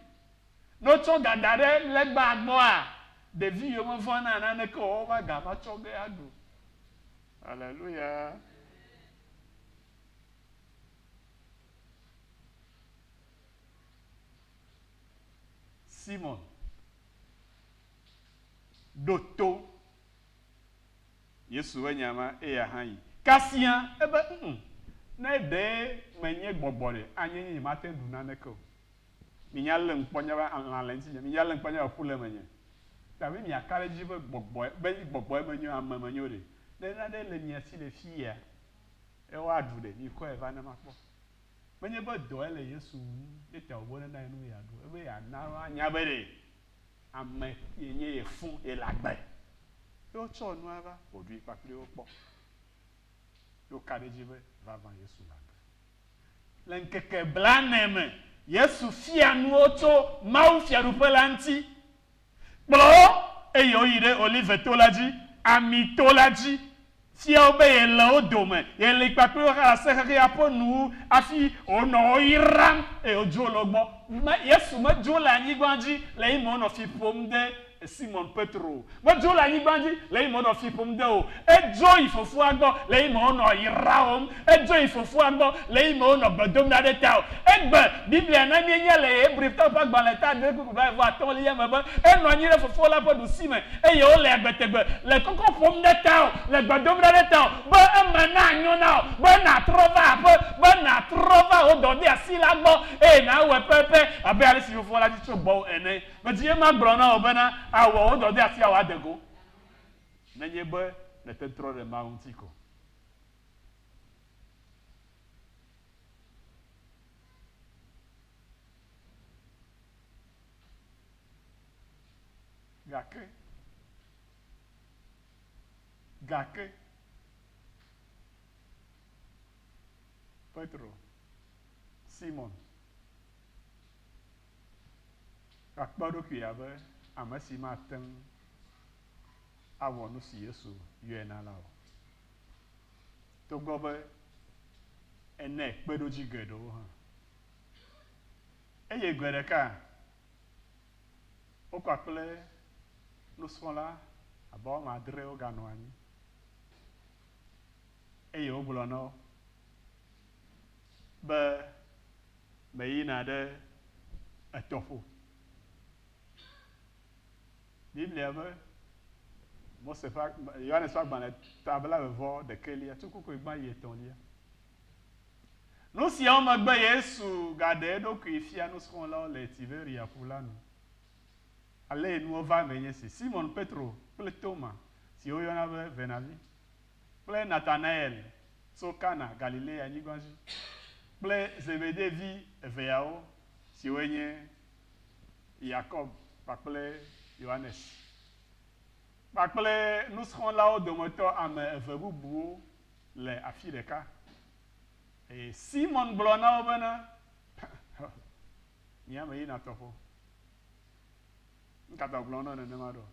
Ne wotsɔ ga da ɖe legba gbɔa, ɖevi yiwo mevɔ̃na naneke o wova ga va tsɔ ge aɖu. Aleluya. Simɔn, ɖo to Yesu ƒe nya ma, eya hã yi kasia ebe, ŋ-ŋ, ne ɖee menye gbɔgbɔ ɖe, anye nye nyemate ŋu ɖu naneke o. Minya lém kpɔ nye be lã le ŋutinye, minya lém kpɔ nye be ƒu le menye. Ke hafi miaka ɖe edzi be gbɔgbɔe, be gbɔgbɔe menyo, ame menyo ɖe, ne naɖe le mia si le fiyea, Eye woaɖu ɖe. Mikɔe va ne makpɔ. Menye be dɔe le Yesu wum ye ta wòbɔ ɖe na ye nu be yeaɖu o. Ebe yeana woanya be ɖe ame yenye ye fũ yele agbe. Ye wotsɔ nua va, wòɖui kpakpli wo kpɔ. Ye woka ɖe edzi be, Vavã Yesu le agbe. Le ŋkeke blane me, Yesu fia nuwo tso Mawu Fiaɖuƒe la ŋuti. Kplɔ wo, eye woyi ɖe Olive-to la dzi, Ami-to la dzi. Fia wo be yele wo dome, yeli kpakple wo hã le asexexea ƒe nu wu hafi wònɔ wo yram, eye wodzro le wo gbɔ. Yesu medzro le anyigba dzi le eyime wònɔ fi ƒom de Simɔn Petro o. Medzro le anyigba dzi le eyime wònɔ fi ƒom de wo o. Edzro yi Fofoa gbɔ le eyime wònɔ yrawòm Edzo yi fofoa gbɔ le eyime wonɔ gbe dom ɖa ɖe ta o. Egbe Biblia na míenya le Hebritɔwo ƒe agbalẽ ta adre kple blaeve atɔ̃lia me be enɔ anyi ɖe fofoa la ƒe ɖusime eye wole agbe tegbe le kɔkɔ ƒom ɖe tawò le gbe dom ɖa ɖe tawò be eme nanyo na wò be nàtrɔ va aƒe, be nàtrɔ va wò dɔdeasi la gbɔ eye nàwɔe pɛpɛ abe alesi fofoa la di tso gbɔwò ene. Vevie magblɔ na wò bena àwɔ wò dɔdeasia wòade go nenye be nète ŋu trɔ ɖe Mawu ŋuti ko. Gake, gake, Petro, Simɔn, gakpɔ eɖokui abe ame si mate ŋu awɔ nu si Yesu yɔe na la o. togbɔ be enɛ kpeɖodzi geɖewo hã. Eye gbe ɖeka wokɔ kple nusrɔ̃la abe woame adre woganɔ anyi eye wogblɔ na wo be meyina ɖe etɔƒo. Biblia be Mose ƒe, Yohanes ƒe agbalẽ ta blawevɔ ɖekɛlia, tsukukue gbã yi etɔ̃lia. Nu siawo megbe Yesu gaɖe eɖokui fia nusrɔ̃lawo le Tiberia ƒu la nu. Alee nuwo va eme nye si, Simon Petro kple Toma, si woyɔna be Venavi, kple Natanael tso Kana, Galilea nyigba dzi, kple Zebede vi eveawo, siwoe nye, Yakob kpakple Yohanes, kpakple nusrɔ̃lawo dometɔ ame eve bubuwo le afi ɖeka. Eye Simɔn gblɔ na wo bena, Mi ame yina tɔƒo. Nu ka ta wògblɔ na wo nenema ɖo?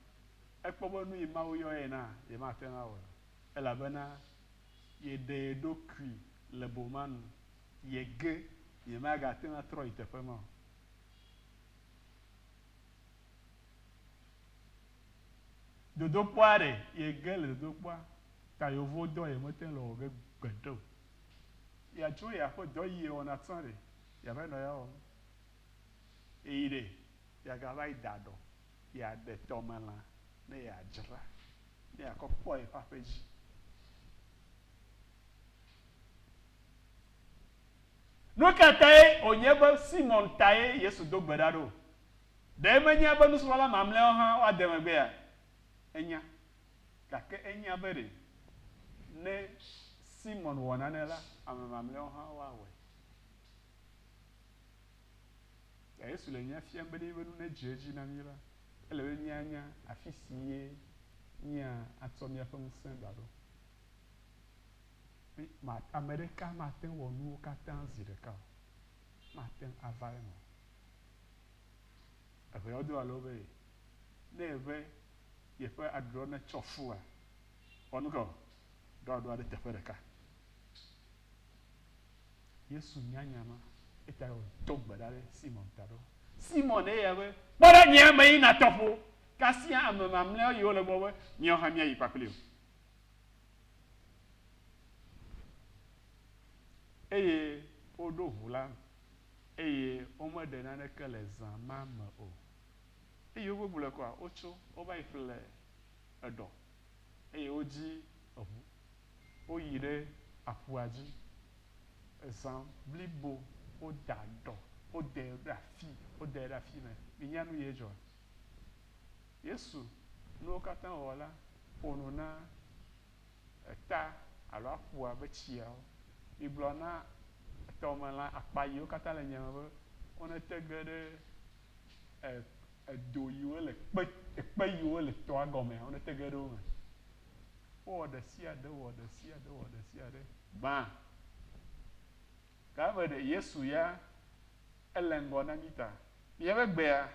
Ekpɔ be nu yi Mawu yɔ ye na, yemate ŋu awɔe o, elabena yeɖe ye ɖokui le boma nu, yege, yemagate ŋu atrɔ yi teƒe ma o. Dodokpɔa ɖe yege le dodokpɔa ta yewo dɔ ye me te le wɔ ge gbeɖe o. Ya tso ya ƒe dɔ yi ye wɔna tsã ɖe ya va yi nɔ ya wɔm. Eyi ɖe ya ga va yi da ɖɔ ya ɖe tɔme lã ne ya dzra ne ya kɔ kpɔ ye ƒe aƒe dzi. Nukatae wònye be Simɔn tae Yesu do gbe ɖa ɖo? Ɖe menyea be nusrɔ̃la mamlɛawo hã woade megbea? Enya. Gake enya be ɖe ne Simɔn wɔ nane la, ame mamlɛawo hã woawɔe. Ke Yesu le nya fiam be ne yeƒe nu nedze edzi na mí la, ele be míanya afi sie míatsɔ míaƒe ŋusẽ ɖaɖo. Ame ɖeka mate ŋu awɔ nuwo katã zi ɖeka o. Mate ŋu ava eme o. Eŋeawo alo be ne ebe yeƒe adrɔ netsɔ fua, wɔ nu ka o? Ɖo aɖoa ɖe teƒe ɖeka. Yesu nya nya ma eyata wòdo gbe ɖa ɖe Simɔn ta be, Simɔn, eya be, kpɔ ɖe nye eme yina tɔƒo, kasia ame mamlɛawo yiwo le egbɔ be, míawo hã míayi kpakpli wò. Eye woɖo ŋu la, eye womeɖe naneke le zã ma me o. Eye wogbegblɔe kɔa, wotso, wova yi ƒle eɖɔ, eye wodzi eŋu, woyi ɖe aƒua dzi, zã blibo woda ɖɔ, wodae ɖe afii, wodae ɖe afii me. Minya nu ye dzɔa? Yesu nuwo katã wɔwɔ la ƒo nu na eta alo aƒua be tsiawo. Migblɔ na tɔmelã akpa yiwo katã le nya me be wonete ge ɖe edo yiwo le kpe, ekpe yiwo le tɔa gɔmea, wonete ge ɖe wo me. Wowɔ ɖesiaɖe, wowɔ ɖesiaɖe, wowɔ ɖesiaɖe gbã. Gã be ɖe Yesu ya ele ŋgɔ na mí ta. Míaƒe gbea,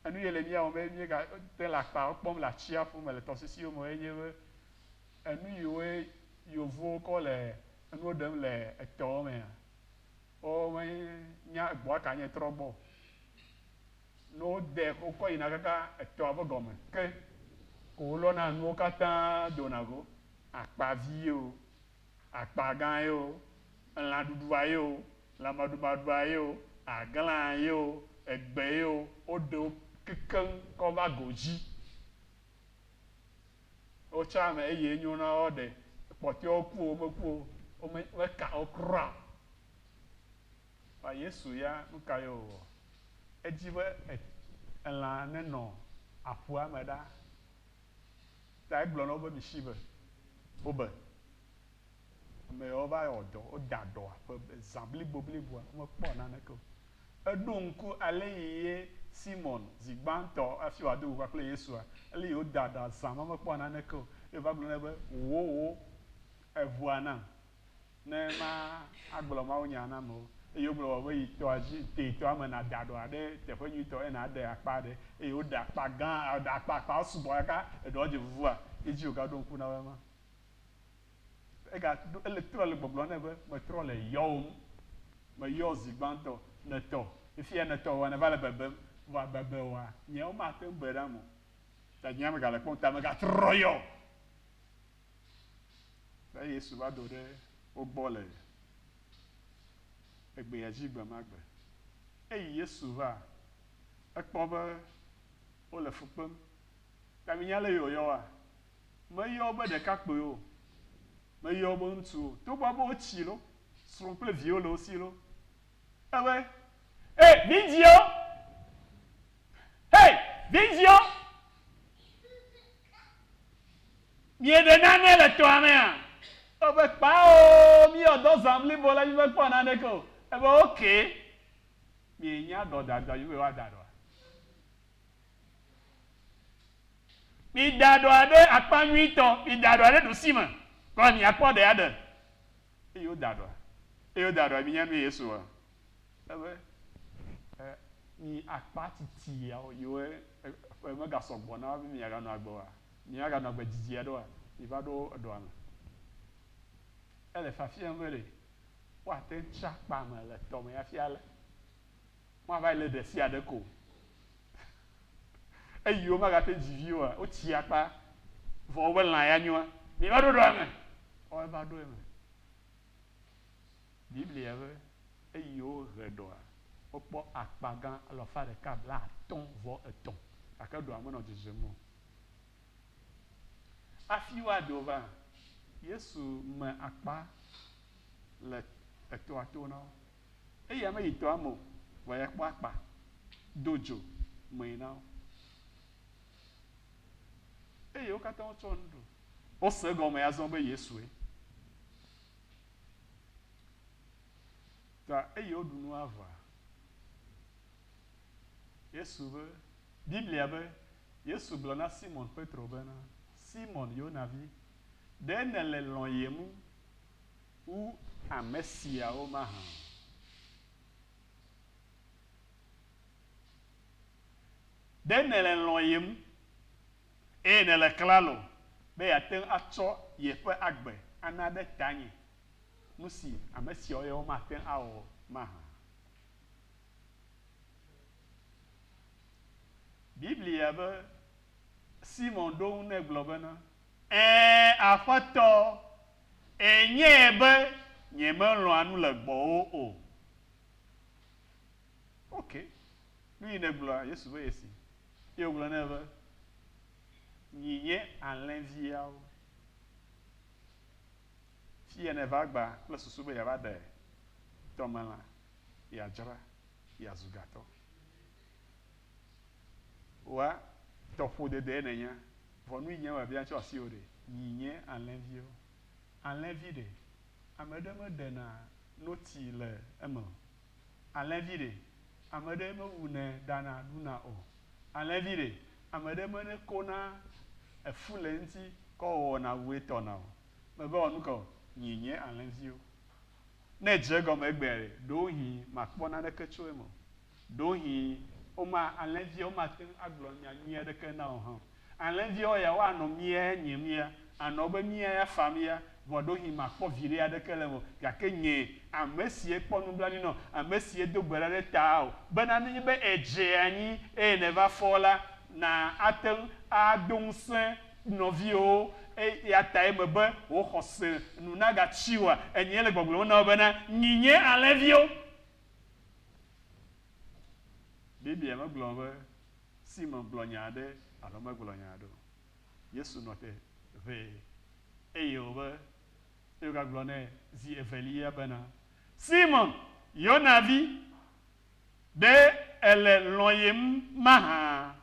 enu ye le mía wɔm be míegate le akpawo kpɔm le atsiaƒu me, le tɔsisiwo me enye be enu yiwoe yevuwo kɔ le enuwo ɖem le etɔwo mea, womenya egbɔa ka nye trɔ gbɔ o. Ne wode wokɔ yina kaka etɔa ƒe gɔme ke ko wolɔna nuwo katã dona go, akpa vie o, Akpa gã ye o, elã ɖuɖua ye o, lã maɖumaɖua ye o, aglãa ye o, egbe ye o, woɖe wo kekeŋ kɔ va go dzi. Wo tsã me eye nyo na wo ɖe kpɔtɔewo ku o, womeku o, womeka wo kura o. Vɔ Yesu ya, nu ka ye wòwɔ? Edi be elã nenɔ aƒua me ɖaa. Ta egblɔ na wo be, Misi be wo be ame yawo va wɔ dɔ, woda dɔa ƒe zã blibobliboa, womekpɔ naneke o. Eɖo ŋku aleyi ye Simɔn, zi gbãtɔ hafi wòado go kpakple Yesua, aleyi wòda dɔa zã ma mekpɔ naneke o, ye wòva gblɔ nɛ be, Wò, wò eŋua nam. ne ma agblɔ mawunya na amewo. Eye wogblɔ wɔwɔ be yi tɔa dzi te tɔa me na da ɖɔa ɖe teƒe nyuitɔ eye na ɖe akpa ɖe eye wo ɖe akpa gã ɖe akpa akpa sugbɔ kaka eɖɔa dze vuvua ye dzi woga ɖo ŋku na woe ma. Ega ɖo ele trɔ le gbɔgblɔ ne be me trɔ le yɔwò ŋu. Me yɔ zi gbãtɔ ne tɔ fifia ne tɔ wɔna va le bebem vɔa bebe wɔa nyea wo ma te ŋu be ɖam o. Ta nyea me ga le kpɔ ŋu ta me ga trɔ yɔ. Ne Yesu va do ɖe wo gbɔ le egbea dzi gbe ma gbe. Eyi Yesu va, ekpɔ be wole fu kpem. Ɖe mienya ale yi wòyɔwoa? Meyɔ wo be ɖekakpuiwo o, meyɔ wo be ŋutsuwo o, togbɔ be wotsi loo, srɔ̃ kple viwo le wo si loo. Ebe, He, vidzĩwo! He, vidzĩwo! Mieɖe nane le tɔa mea? Wo be, Kpao, míewɔ dɔ zã blibo ale mímekpɔ naneke o. Ebe, Ok, mienya dɔ dadɔa dzi be yewoada ɖɔa? Mida ɖɔa ɖe akpa nyuitɔ, mida ɖɔa ɖe ɖusime, kɔ miakpɔ ɖe aɖe. Eye woda ɖɔa. Eye woda ɖɔa. Minya nuye Yesu wɔa? Ebe, E, mi akpa tsitsi yawo yiwo ƒe megasɔ gbɔ na wo be miaganɔ agbe oa? Mìaganɔ agbe didi aɖeoa? Miva ɖo eɖoa me. Ele fiafiam be ɖe woate ŋu tsi akpa me le tɔ me hafi alé. Woava yi lé ɖesiaɖe ko o. Eyi womagate ŋu dzi vi oa, wotsia akpa vɔ woƒe lã ya nyoa. Miva ɖo eɖoa me. Woawo va ɖo eme. Biblia be, Eyi wohe eɖoa, wokpɔ akpa gã alafa ɖeka blaatɔ̃ vɔ etɔ̃, gake eɖoa menɔ dzedzem o. Afi woado va, Yesu me akpa le etɔa to na wo. Eya meyi tɔa me o, vɔ ya kpɔ akpa do dzo mee na wo. Eye wo katã wotsɔ nu ɖu. Wose egɔme azɔ be Yesue. Ta eye woɖu nua vɔa, Yesu be, Biblia be, Yesu gblɔ na Simɔn Petro bena, Simɔn, Yona vi, ɖe nèle lɔ̃yem wu ame siawo mahã? Ɖe nèle lɔ̃yem eye nèle klalo be yeate ŋu atsɔ yeƒe agbe ana ɖe tanye, nu si ame siawo ya womate ŋu awɔ mahã? Biblia be, Simɔ ɖo eŋu nɛ gblɔ bena, Ẽ, Aƒetɔ, enyae be nyemelɔ̃a nu le gbɔwò o. Ok, nu yi nègblɔa? Yesu be ye si. Ye wògblɔ nɛ be, Nyi nye alẽviawo. Fiya nèva gbã kple susu be yeava ɖe tɔmelã. yeadzra yeazu gatɔ. Wa tɔƒodedee nènya, vɔ nu yi nye wòabia atsɔ asiwò ɖe? Yi nye alẽviwo. Alẽvi ɖe, ame ɖe meɖena noti le eme o? Alẽvi ɖe, ame ɖee mewunɛ ɖana ɖuna o? Alẽvi ɖe, ame ɖee mene kona efu le eŋuti kɔ wɔna ŋue tɔna o? Mègawɔ nu ka o. Yi nye alẽviwo. Ne èdze egɔme egbea ɖe, ɖewohĩ màkpɔ naneke tso eme o. Ɖewohĩ woma, alẽviawo mate ŋu agblɔ nya nyui aɖeke na wò hã o. Alẽviawo ya, woanɔ mia ya, nye mia, anɔ wobe mia ya fam ya, vɔ ɖewohĩ màkpɔ viɖe aɖeke le eme o. Gake nye, ame si ekpɔ nublanui na wò, ame si edo gbe ɖa ɖe tawò, bena nenye be èdze anyi eye nèva fɔ la, na ate ŋu ado ŋusẽ Nɔviwo, eya tae mebe wò xɔse nu nagatsi o. Enyee le gbɔgblɔm na wò bena, Minye alẽviwo. Biblia megblɔ be Simɔn gblɔ nya aɖe alo megblɔ nya aɖe o. Yesu nɔ te ʋɛ eye wòbe eye wògagblɔ nɛ zi evelia bena, Simɔn, Yona vi, ɖe èle lɔ̃yem mahã?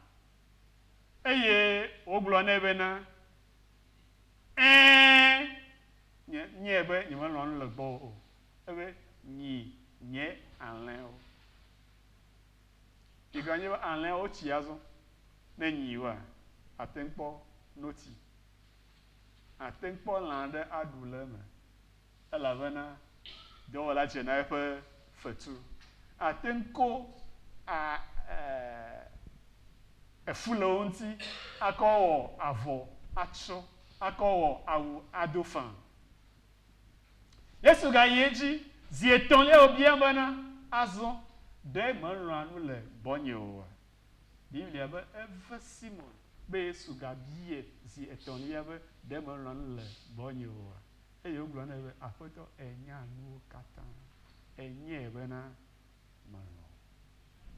Eye wogblɔ nɛ bena, Ẽ, nye, nyee be nyemelɔ̃ nu le gbɔwò o. Ebe, Nyi nye alẽwo. Migblɔ nye be alẽwo tsi azɔ. Ne nyiwoa, àte ŋu kpɔ noti. Àte ŋu kpɔ lã aɖe aɖu le eme. elabena dɔwɔla dze na eƒe fetu. Àte ŋu ko a, e, efu le wo ŋuti, akɔ wɔ avɔ atsɔ, akɔ wɔ awu ado faa. Yesu gayi edzi zi etɔ̃lia wòbia bena, Azɔ, ɖe mèlɔ̃a nu le gbɔnye oa? Biblia be, Eve Simon be Yesu gabiae zi etɔ̃lia be, Ɖe mèlɔ̃a nu le gbɔnye oa? Eye wogblɔ nɛ be, Aƒetɔ, ènya nuwo katã, ènyɔe bena melɔ̃.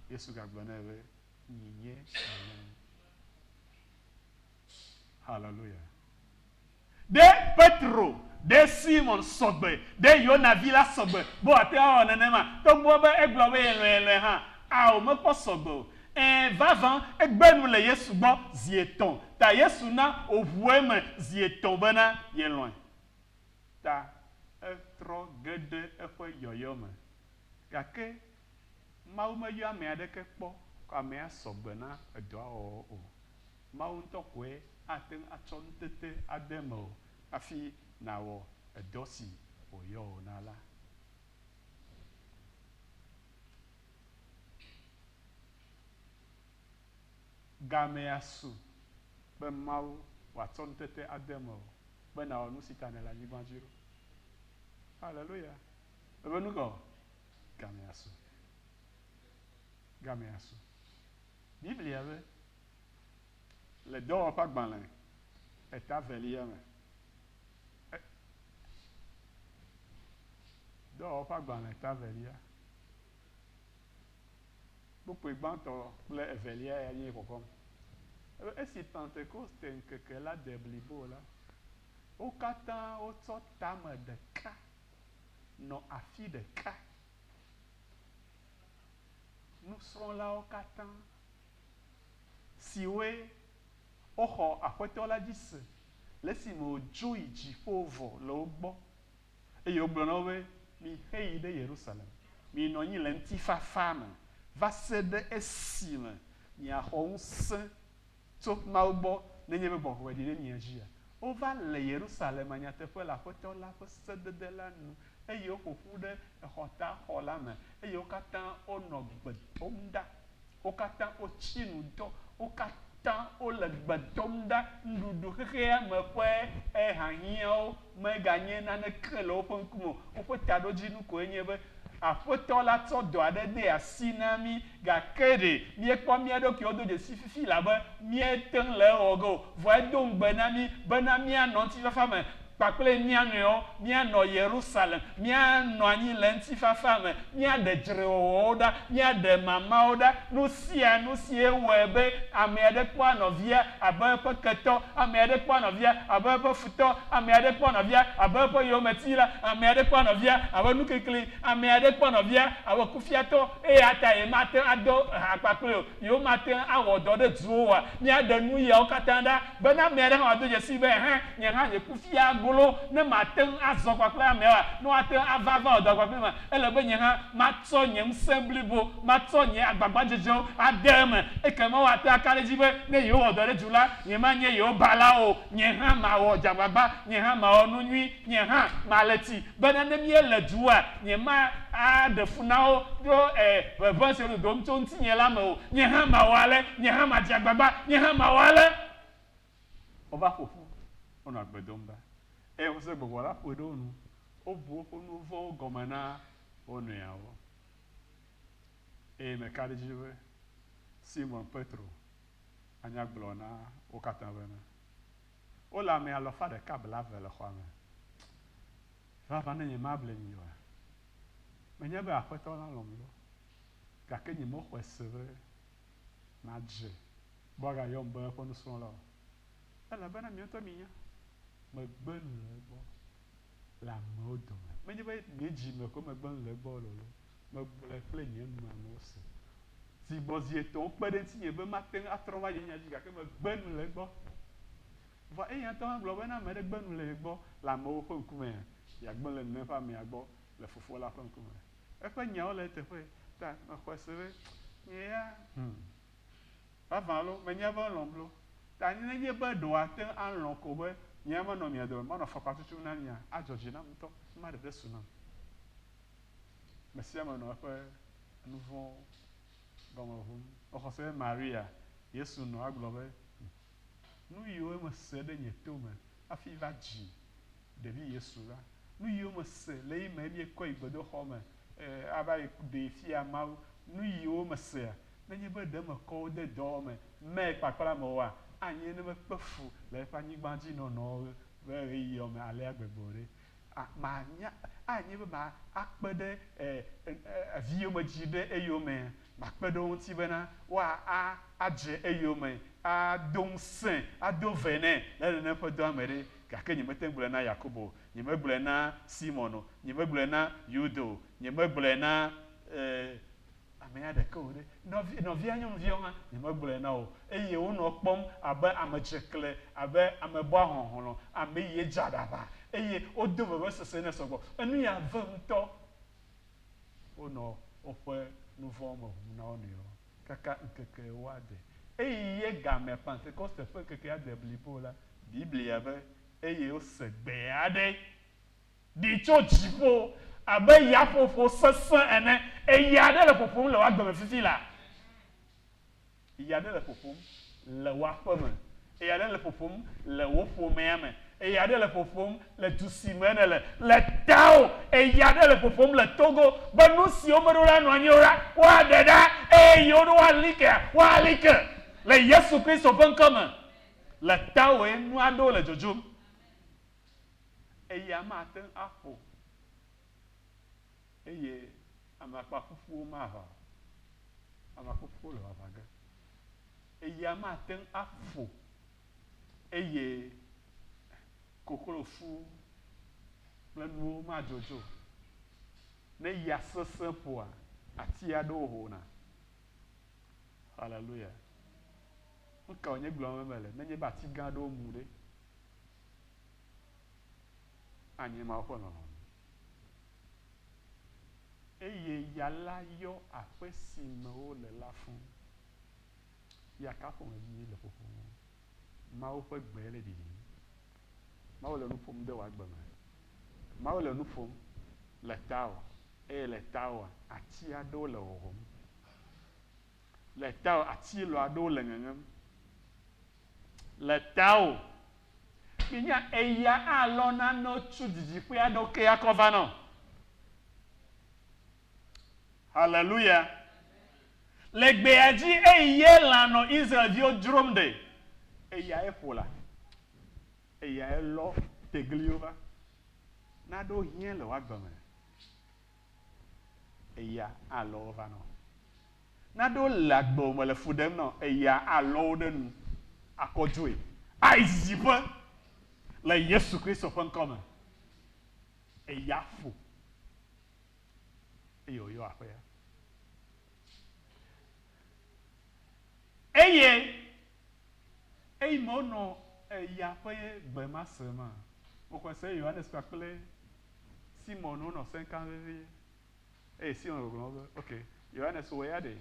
Yesu gagblɔ nɛ be, Nyinye èlɔ̃. Haleluya! Ɖe Petro, ɖe Simɔn sɔgbe, ɖe Yona vi la sɔgbe be wòate ŋu awɔ nenema, togbɔ be egblɔ be yelɔ̃e yelɔ̃e hã? Ao, mekpɔ sɔgbe o. Ẽ, vavã, egbe nu le Yesu gbɔ zi etɔ̃, ta Yesu na wòʋu eme zi etɔ̃ bena yelɔ̃e, ta etrɔ ge ɖe eƒe yɔyɔ me. Gake Mawu meyɔ ame aɖeke kpɔ kɔ amea sɔ gbe na edɔa wɔwɔ o. Mawu ŋutɔ koe ate ŋu atsɔ nutete ade mewò hafi nàwɔ edɔ si wòyɔ wò na la. gamea su be Mawu wòatsɔ ŋutete ade mewò be nàwɔ nu si ta nèle anyigba dzi ɖo. Haleluya! Ebe nu kae? Gamea su. Gamea su. Biblia be, le Dɔwɔƒeagbalẽ eta velia me, e, Dɔwɔƒeagbalẽ eta velia, Kpukpui gbãtɔ kple evelia ya nye xɔxɔm. Alo esi Pentekoste ŋkeke la de blibo la, wo katã wotsɔ tame ɖeka nɔ afi ɖeka. Nusrɔ̃lawo katã siwoe woxɔ Aƒetɔ la dzi se le esime wòdzo yi dziƒo vɔ le wo gbɔ. Eye wogblɔ na wo be, Miheyi ɖe Yerusalem, miyi nɔ anyi le ŋutifafa me va se ɖe esime miaxɔ ŋusẽ tso Mawu gbɔ, nenye be gbɔgbɔ ɖi ɖe mia dzia. Wova le Yerusalem nyateƒe le Aƒetɔ la ƒe sedede la nu, eye woƒo ƒu ɖe exɔtaxɔ la me, eye wo katã wonɔ gbe dom ɖa. Wo katã wotsi nu dɔ. Wo katã wole gbe dom ɖa. Nuɖuɖu xexea me ƒe ehahiãwo meganye naneke le woƒe ŋkume o. Woƒe taɖodzinu koe nye be, Aƒetɔ la tsɔ dɔ aɖe de asi na mí, gake ɖe míekpɔ mía ɖokuiwo do dzesi fifi la be míete ŋu le ewɔ ge o. Vɔ edo ŋugbe na mí bena míanɔ ŋutifafa me. Kpakple mía nɔewo, míanɔ Yerusalem, míanɔ anyi le ŋutifafa me, míaɖe dzrewɔwɔwo ɖa, míaɖe mamawo ɖa, nu sia nu sie wɔe be ame aɖe kpɔa nɔvia abe eƒe ketɔ, ame aɖe kpɔa nɔvia abe eƒe futɔ, ame aɖe kpɔa nɔvia abe eƒe yometi la, ame aɖe kpɔa nɔvia abe nuklikli, ame aɖe kpɔa nɔvia abe kufiatɔ, eya tae mate ŋu ado ha kpakplii o. Ye womate ŋu awɔ dɔ ɖe duwo oa? Míaɖe nuyawo katã ɖa be ne ame aɖe hã wòado dzesii be, Ɛhɛ̃, nye hã nye kufia golo, ne mate ŋu azɔ kpakple ameawoa? Ne woate ŋu ava ava wɔ dɔ kpakplimaa? Ele be nye hã matsɔ nye ŋusẽ blibo, matsɔ nye agbagbadzedzewo ade eme. Ekema woate ŋu aka ɖe edzi be ne yewowɔ dɔ ɖe du la, nyemanye yewo bala o. Nye hã mawɔ dzagbagba, nye hã mawɔ nu nyui. Nye hã male ti bene ne míele dua, nyemaɖe fu na wo ɖo e ʋeʋẽ si wododom tso ŋutinye la me o. Nye hã mawɔ ale, nye hã madze agbagba, nye hã mawɔ ale. Wova ƒo ƒu, wonɔ agbe dom ɖa, eye xɔse gbɔgbɔ la ƒoe ɖe wo nu, wobu woƒe nu vɔ̃wo gɔme na wo nɔeawo. Eye meka ɖe edzi be Simon Petro anya gblɔ na wo katã bena. Wole ame alafa ɖeka blaeve le xɔa me. Vavã ne nyemable mi oa? Menye be Aƒetɔ la lɔ̃m loo, gake nyemexɔe se be madze mɔ agayɔm be eƒe nusrɔ̃la o. Elabena mi ŋutɔ minya, megbe nu le egbɔ. le amewo dome. Menye be nye dzi me koe megblɔ nu le egbɔ o lolo, megblɔe kple nye numewo se. Zi gbɔ zi etɔ̃wo kpe ɖe ŋutinye be mate ŋu atrɔ va nye nya dzi gake megbe nu le egbɔ. Vɔa eya ŋutɔ hã gblɔ be ne ame aɖe gbe nu le ye gbɔ le amewo ƒe ŋkumea, yeagbe le nɔnɔe ƒe amea gbɔ le Fofoa la ƒe ŋkume. Eƒe nyawo le eteƒe ta mexɔe se be nye ya, hum, Vavã loo, menyae be elɔ̃m loo, ta ne enye be ɖe wòate ŋu alɔ̃ ko be nyea manɔ mia dome, manɔ afɔkpa tutum na mia, adzɔ dzi nam ŋutɔ, ekema ɖeɖe su nam. Amesiame nɔ eƒe nuvɔ̃ gɔme ʋum. Mexɔse be Maria, Yesu nɔ agblɔ be, Nuyiwo mese ɖe nye tome hafi va dzi ɖevi Yesu la, nuyiwo mese le eyi me miekɔe yi gbedoxɔme, ava yi ɖee fia Mawu. Nu yiwo mesea, nenye be ɖe mekɔ wo de dɔwɔwɔ me mɛ kpakpla me oa, anye ne mekpe fu le eƒe anyigbadzinɔnɔ ƒe ɣeyiɣiawo me alea gbegbe o ɖe. A Manya, anye be ma akpe ɖe e viyomedzi ɖe eyomea? Makpe ɖe wo ŋuti bena woa a adze eyome ado ŋusẽ, ado ve nɛ le nenem ƒe dɔa me ɖe? Gake nyemete ŋu gblɔe na Yakobo o. Nyemegblɔe na Simɔn o, nyemegblɔe na Yuda o, nyemegblɔe na, ee, amea ɖeke o ɖe, nɔvi, nɔvia nyɔnuviawo hã, nyemegblɔe na wo o. Eye wonɔ kpɔm abe amedzekle, abe amebɔa hlɔ̃hlɔ̃, ame yie dze aɖaʋa, eye wodo vevesese nɛ sɔgbɔ. Enu ya vem ŋutɔ. Wonɔ woƒe nuvɔ̃wo me ʋum na wo nɔewo kaka ŋkeke ewo ade. Eye gamea, Pantekoste ƒe ŋkekea de blibo la, Biblia be, Eye wose gbe aɖe ɖi tso dziƒo abe yaƒoƒo sesẽ ene. Eya aɖe le ƒoƒom le woa gbe me fifi laa. Eya aɖe le ƒoƒom le woa ƒe me. Eya aɖe le ƒoƒom le wo ƒomea me. Eya aɖe le ƒoƒom le du si me nèle, le tawò. Eya aɖe le ƒoƒom le Togo be nu si womeɖo ɖa nɔ anyi o la, woaɖe ɖa, eye yewo ɖo woali kea, woali ke le Yesu Kristo ƒe ŋkɔ me. Le tawòe nu aɖewo le dzodzom, eya mate ŋu axɔ o, eye amakpaƒuƒuwo maʋã o. Amakpaƒuƒuwo le ʋaʋã ge. Eya mate ŋu aƒo o, eye koklofu kple nuwo madzodzo o. Ne ya sesẽ ƒoa ati aɖewo hona. Haleluya! Nu kae wònye gblɔm mele nenye be ati gã aɖewo mu ɖe? Anye Mawu ƒe lɔlɔ̃nu. Eye ya la yɔ aƒe si me wole la fũ. Ya ka ƒomevi le ƒoƒom. Mawu ƒe gbe le ɖiɖim. Mawu le nu ƒom de wò agbe me. Mawu le nu ƒom le tawò, eye le tawòa, ati aɖewo le ʋɔʋɔm. Le tawò ati lɔa aɖewo le ŋeŋem le tawò. Mìnya eya alɔ nanewo tso didiƒe aɖewo ke akɔ va nɔ. Haleluya! Le gbea dzi eyi ye lã nɔ Israel-viwo dzrom ɖe, eya ye ƒo la, eya ye lɔ tegliwo va. Naɖewo hiã le wò agbe me. eya alɔ wo va nɔ. Ne aɖewo le agbe o me le fu ɖem nɔ eya alɔ wo ɖe nu akɔ dzoe ayi didiƒe le Yesu Kristo ƒe ŋkɔ me. Eya aƒo eye wòyɔ aƒea. Eye Eyi me wonɔ eya ƒe gbe ma se ma, woxɔe se be Yohanes kpakple Simɔn wonɔ sẽ kam vevie. Eye Simɔn gbɔgblɔ wo be, Ok, Yohanes, wò ya ɖe?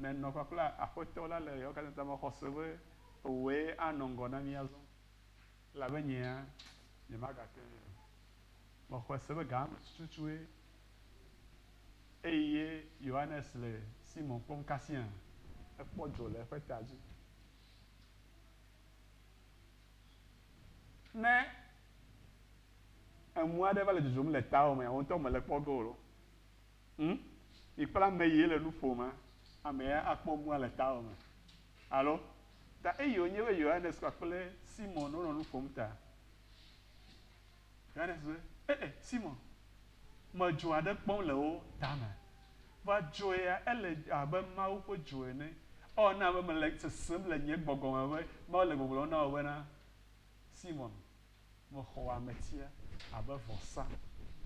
Nènɔ kpakple Aƒetɔ la le ɣeawo katã ta me xɔ se be wòe anɔ ŋgɔ na mí azɔ? Elabe nyea, nyemagate ŋui o. Mexɔe se be gamemetsutsutsue Eye Yohanes le Simɔn kpɔm kasia ekpɔ dzo le eƒe ta dzi. Ne enu aɖe va le dzodzom le tawò mea, wò ŋutɔ mèle kpɔ ge o loo. Hm? Mikpla ame ye le nu ƒomea, ame ya akpɔ nua le tawò me. Alo? Ta eye wònye be Yohanes kpakple Simɔn wonɔ nu ƒom ta. Yohanes be, E e, Simɔn, mèdzo aɖe kpɔm le wo tame? Vɔ dzo ya ele abe Mawu ƒe dzo ene. Ɔ, na be mele sesem le nye gbɔgbɔ me be Mawu le gbɔgblɔm na wò bena, Simɔn, mexɔ ametia abe vɔsa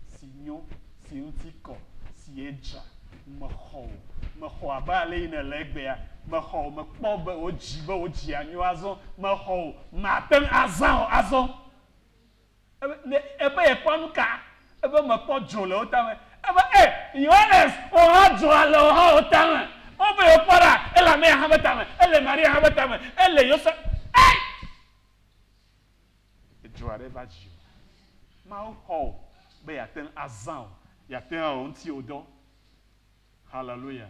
si nyo, si ŋuti kɔ, si edzra. Mexɔ wò. Mexɔ abe ale yi nèle egbea. Mexɔ wò. Mekpɔ be wò dzi, be wò dzia nyo azɔ. Mexɔ wò. Màte ŋu azã o azɔ. Ebe yekpɔ nuka? Ebe mekpɔ dzo le wo tame. Ebe, E! Yohanes, wò hã dzoa le wohawo tame. Ebe yekpɔ ɖa, ele amea hã be tame, ele Maria hã be tame, ele Yosef. Ei! Edzo aɖe va dzi o. Mawu xɔ wò be yeate ŋu azã wò, yeate ŋu awɔ wò ŋuti wò dɔ. Haleluya!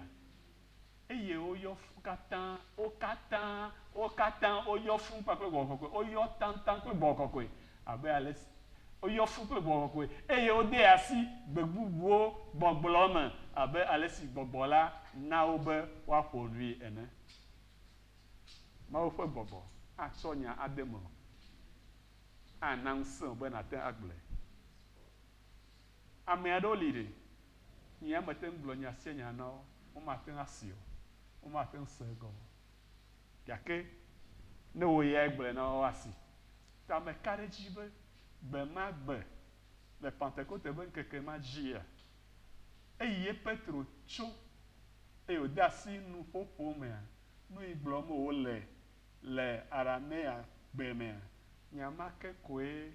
eye woyɔ fũ katã, wo katã, wo katã woyɔ fũ kpakple Gbɔgbɔ Kɔkɔe, woyɔ taŋtaŋ kple Gbɔgbɔ Kɔkɔe, abe ale si, woyɔ fũ kple Gbɔgbɔ Kɔkɔe, eye wode asi gbe bubuwo gbɔgblɔ me abe ale si Gbɔgbɔ la na wo be woaƒo nui ene. Mawu ƒe Gbɔgbɔ atsɔ nya ade mewò, ana ŋusẽ wò be nàte ŋu agblɔe. Ame aɖewo li ɖe, nyee amete ŋu gblɔ nya sia nya na wo, womate ŋu asee o, womate ŋu se egɔme o, gake ne wò yae gblɔe na wo woasee. Ta meka ɖe edzi be gbe ma gbe le Pantekote ƒe ŋkeke ma dzia, eyi ye Petro tso eye wòde asi nuƒoƒo mea, nu yi gblɔm wòle Le Aramea-gbe mea, nya ma ke koe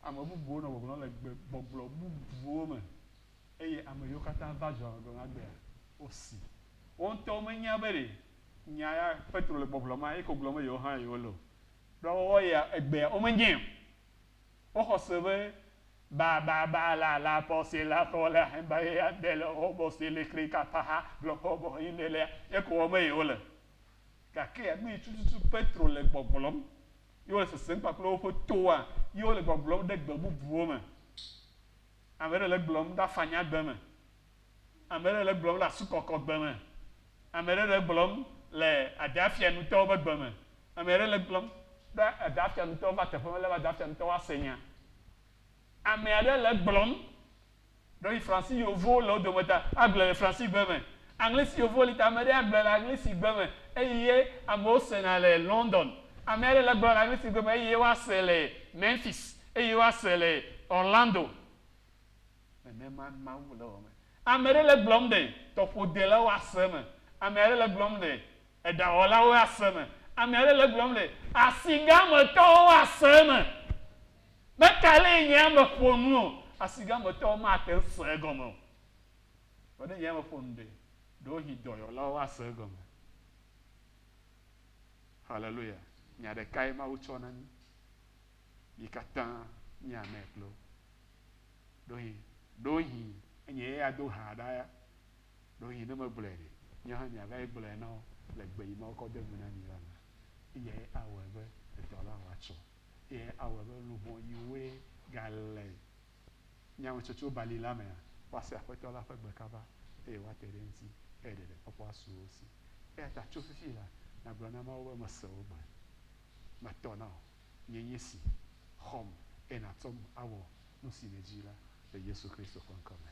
ame bubuwo nɔ gbɔgblɔm le gbe gbɔgblɔ bubuwo me, eye ame yiwo katã va dzɔa gbɔgblɔ na gbea, wosi. Wo ŋutɔwo menya be ɖe nya ya Petro le gbɔgblɔma ye ko gblɔm be yewo hã yewole o. Ɖo woawo ya egbea womenyae o. Woxɔ se be ba ba ba la la pɔ se la xɔ la he ba ye ade le wo bɔ se le kle ka pa ha blɔ kɔ bɔ yi ne le ye ko wɔm ye wole. Gake nu yi tututu Petro le gbɔgblɔm ye wole sesem kpakple woƒe toa, ye wole gbɔgblɔm ɖe gbe bubuwo me. Ame ɖe le egblɔm ɖe afanyagbe me, ame ɖe le egblɔm le asukɔkɔgbe me, ame ɖe le egblɔm le adeafianutɔwo be gbe me, ame ɖe le egblɔm ɖe adeafianutɔwo va teƒe me lebe adeafianutɔwo ase nya. Ame aɖe le egblɔm. Ɖewohĩ Fransi Yevuwo le wo dome ta agblɔe le Fransigbe me, Aŋlisi Yevuwo li ta ame ɖe agblɔe le Aŋlisigbe me eye amewo sena le London. Ame aɖe le gblɔm le Aŋlisigbe me eye woase le Memphis eye woase le Orlando. Nenema Mawu le wɔm. Ame ɖe le gblɔm le tɔƒodelawo ase me. Ame aɖe le gblɔm le eɖawɔlawo ase me. Ame aɖe le gblɔm le asigãmetɔwo ase me. Be ka lee nye ame ƒo nu o, asigametɔwo mate ŋu asee egɔme o. Vɔ ne nye ame ƒo nu ɖe, ɖewohĩ dɔyɔlawo asee egɔme. Haleluya! Nya ɖekae Mawu tsɔ na mí. Mí katã míanɛ kpli wo. Ɖewohĩ, ɖewohĩ enye ye ado ha ɖa ya. Ɖewohĩ ne megblɔe ɖe, míawo hã míava yi gblɔe na wo le gbe yi Mawu kɔ de nu na mí la me. Eyae awɔe be edɔ la wòatsɔ. ye awɔe be luʋɔ yi woe gale nyametsotso bali la mea, woase Aƒetɔ la ƒe gbe kaba, eye woate ɖe eŋuti, eye ɖeɖekpɔkpɔ asu wo si. Eya ta tso fifi la, nàgblɔ na Mawu be, Mese wò gbe. Metɔ na wò. Nyee nye esi. Xɔm, eye nàtsɔm awɔ nu si nèdi la, le Yesu Kristo ƒe ŋkɔ me.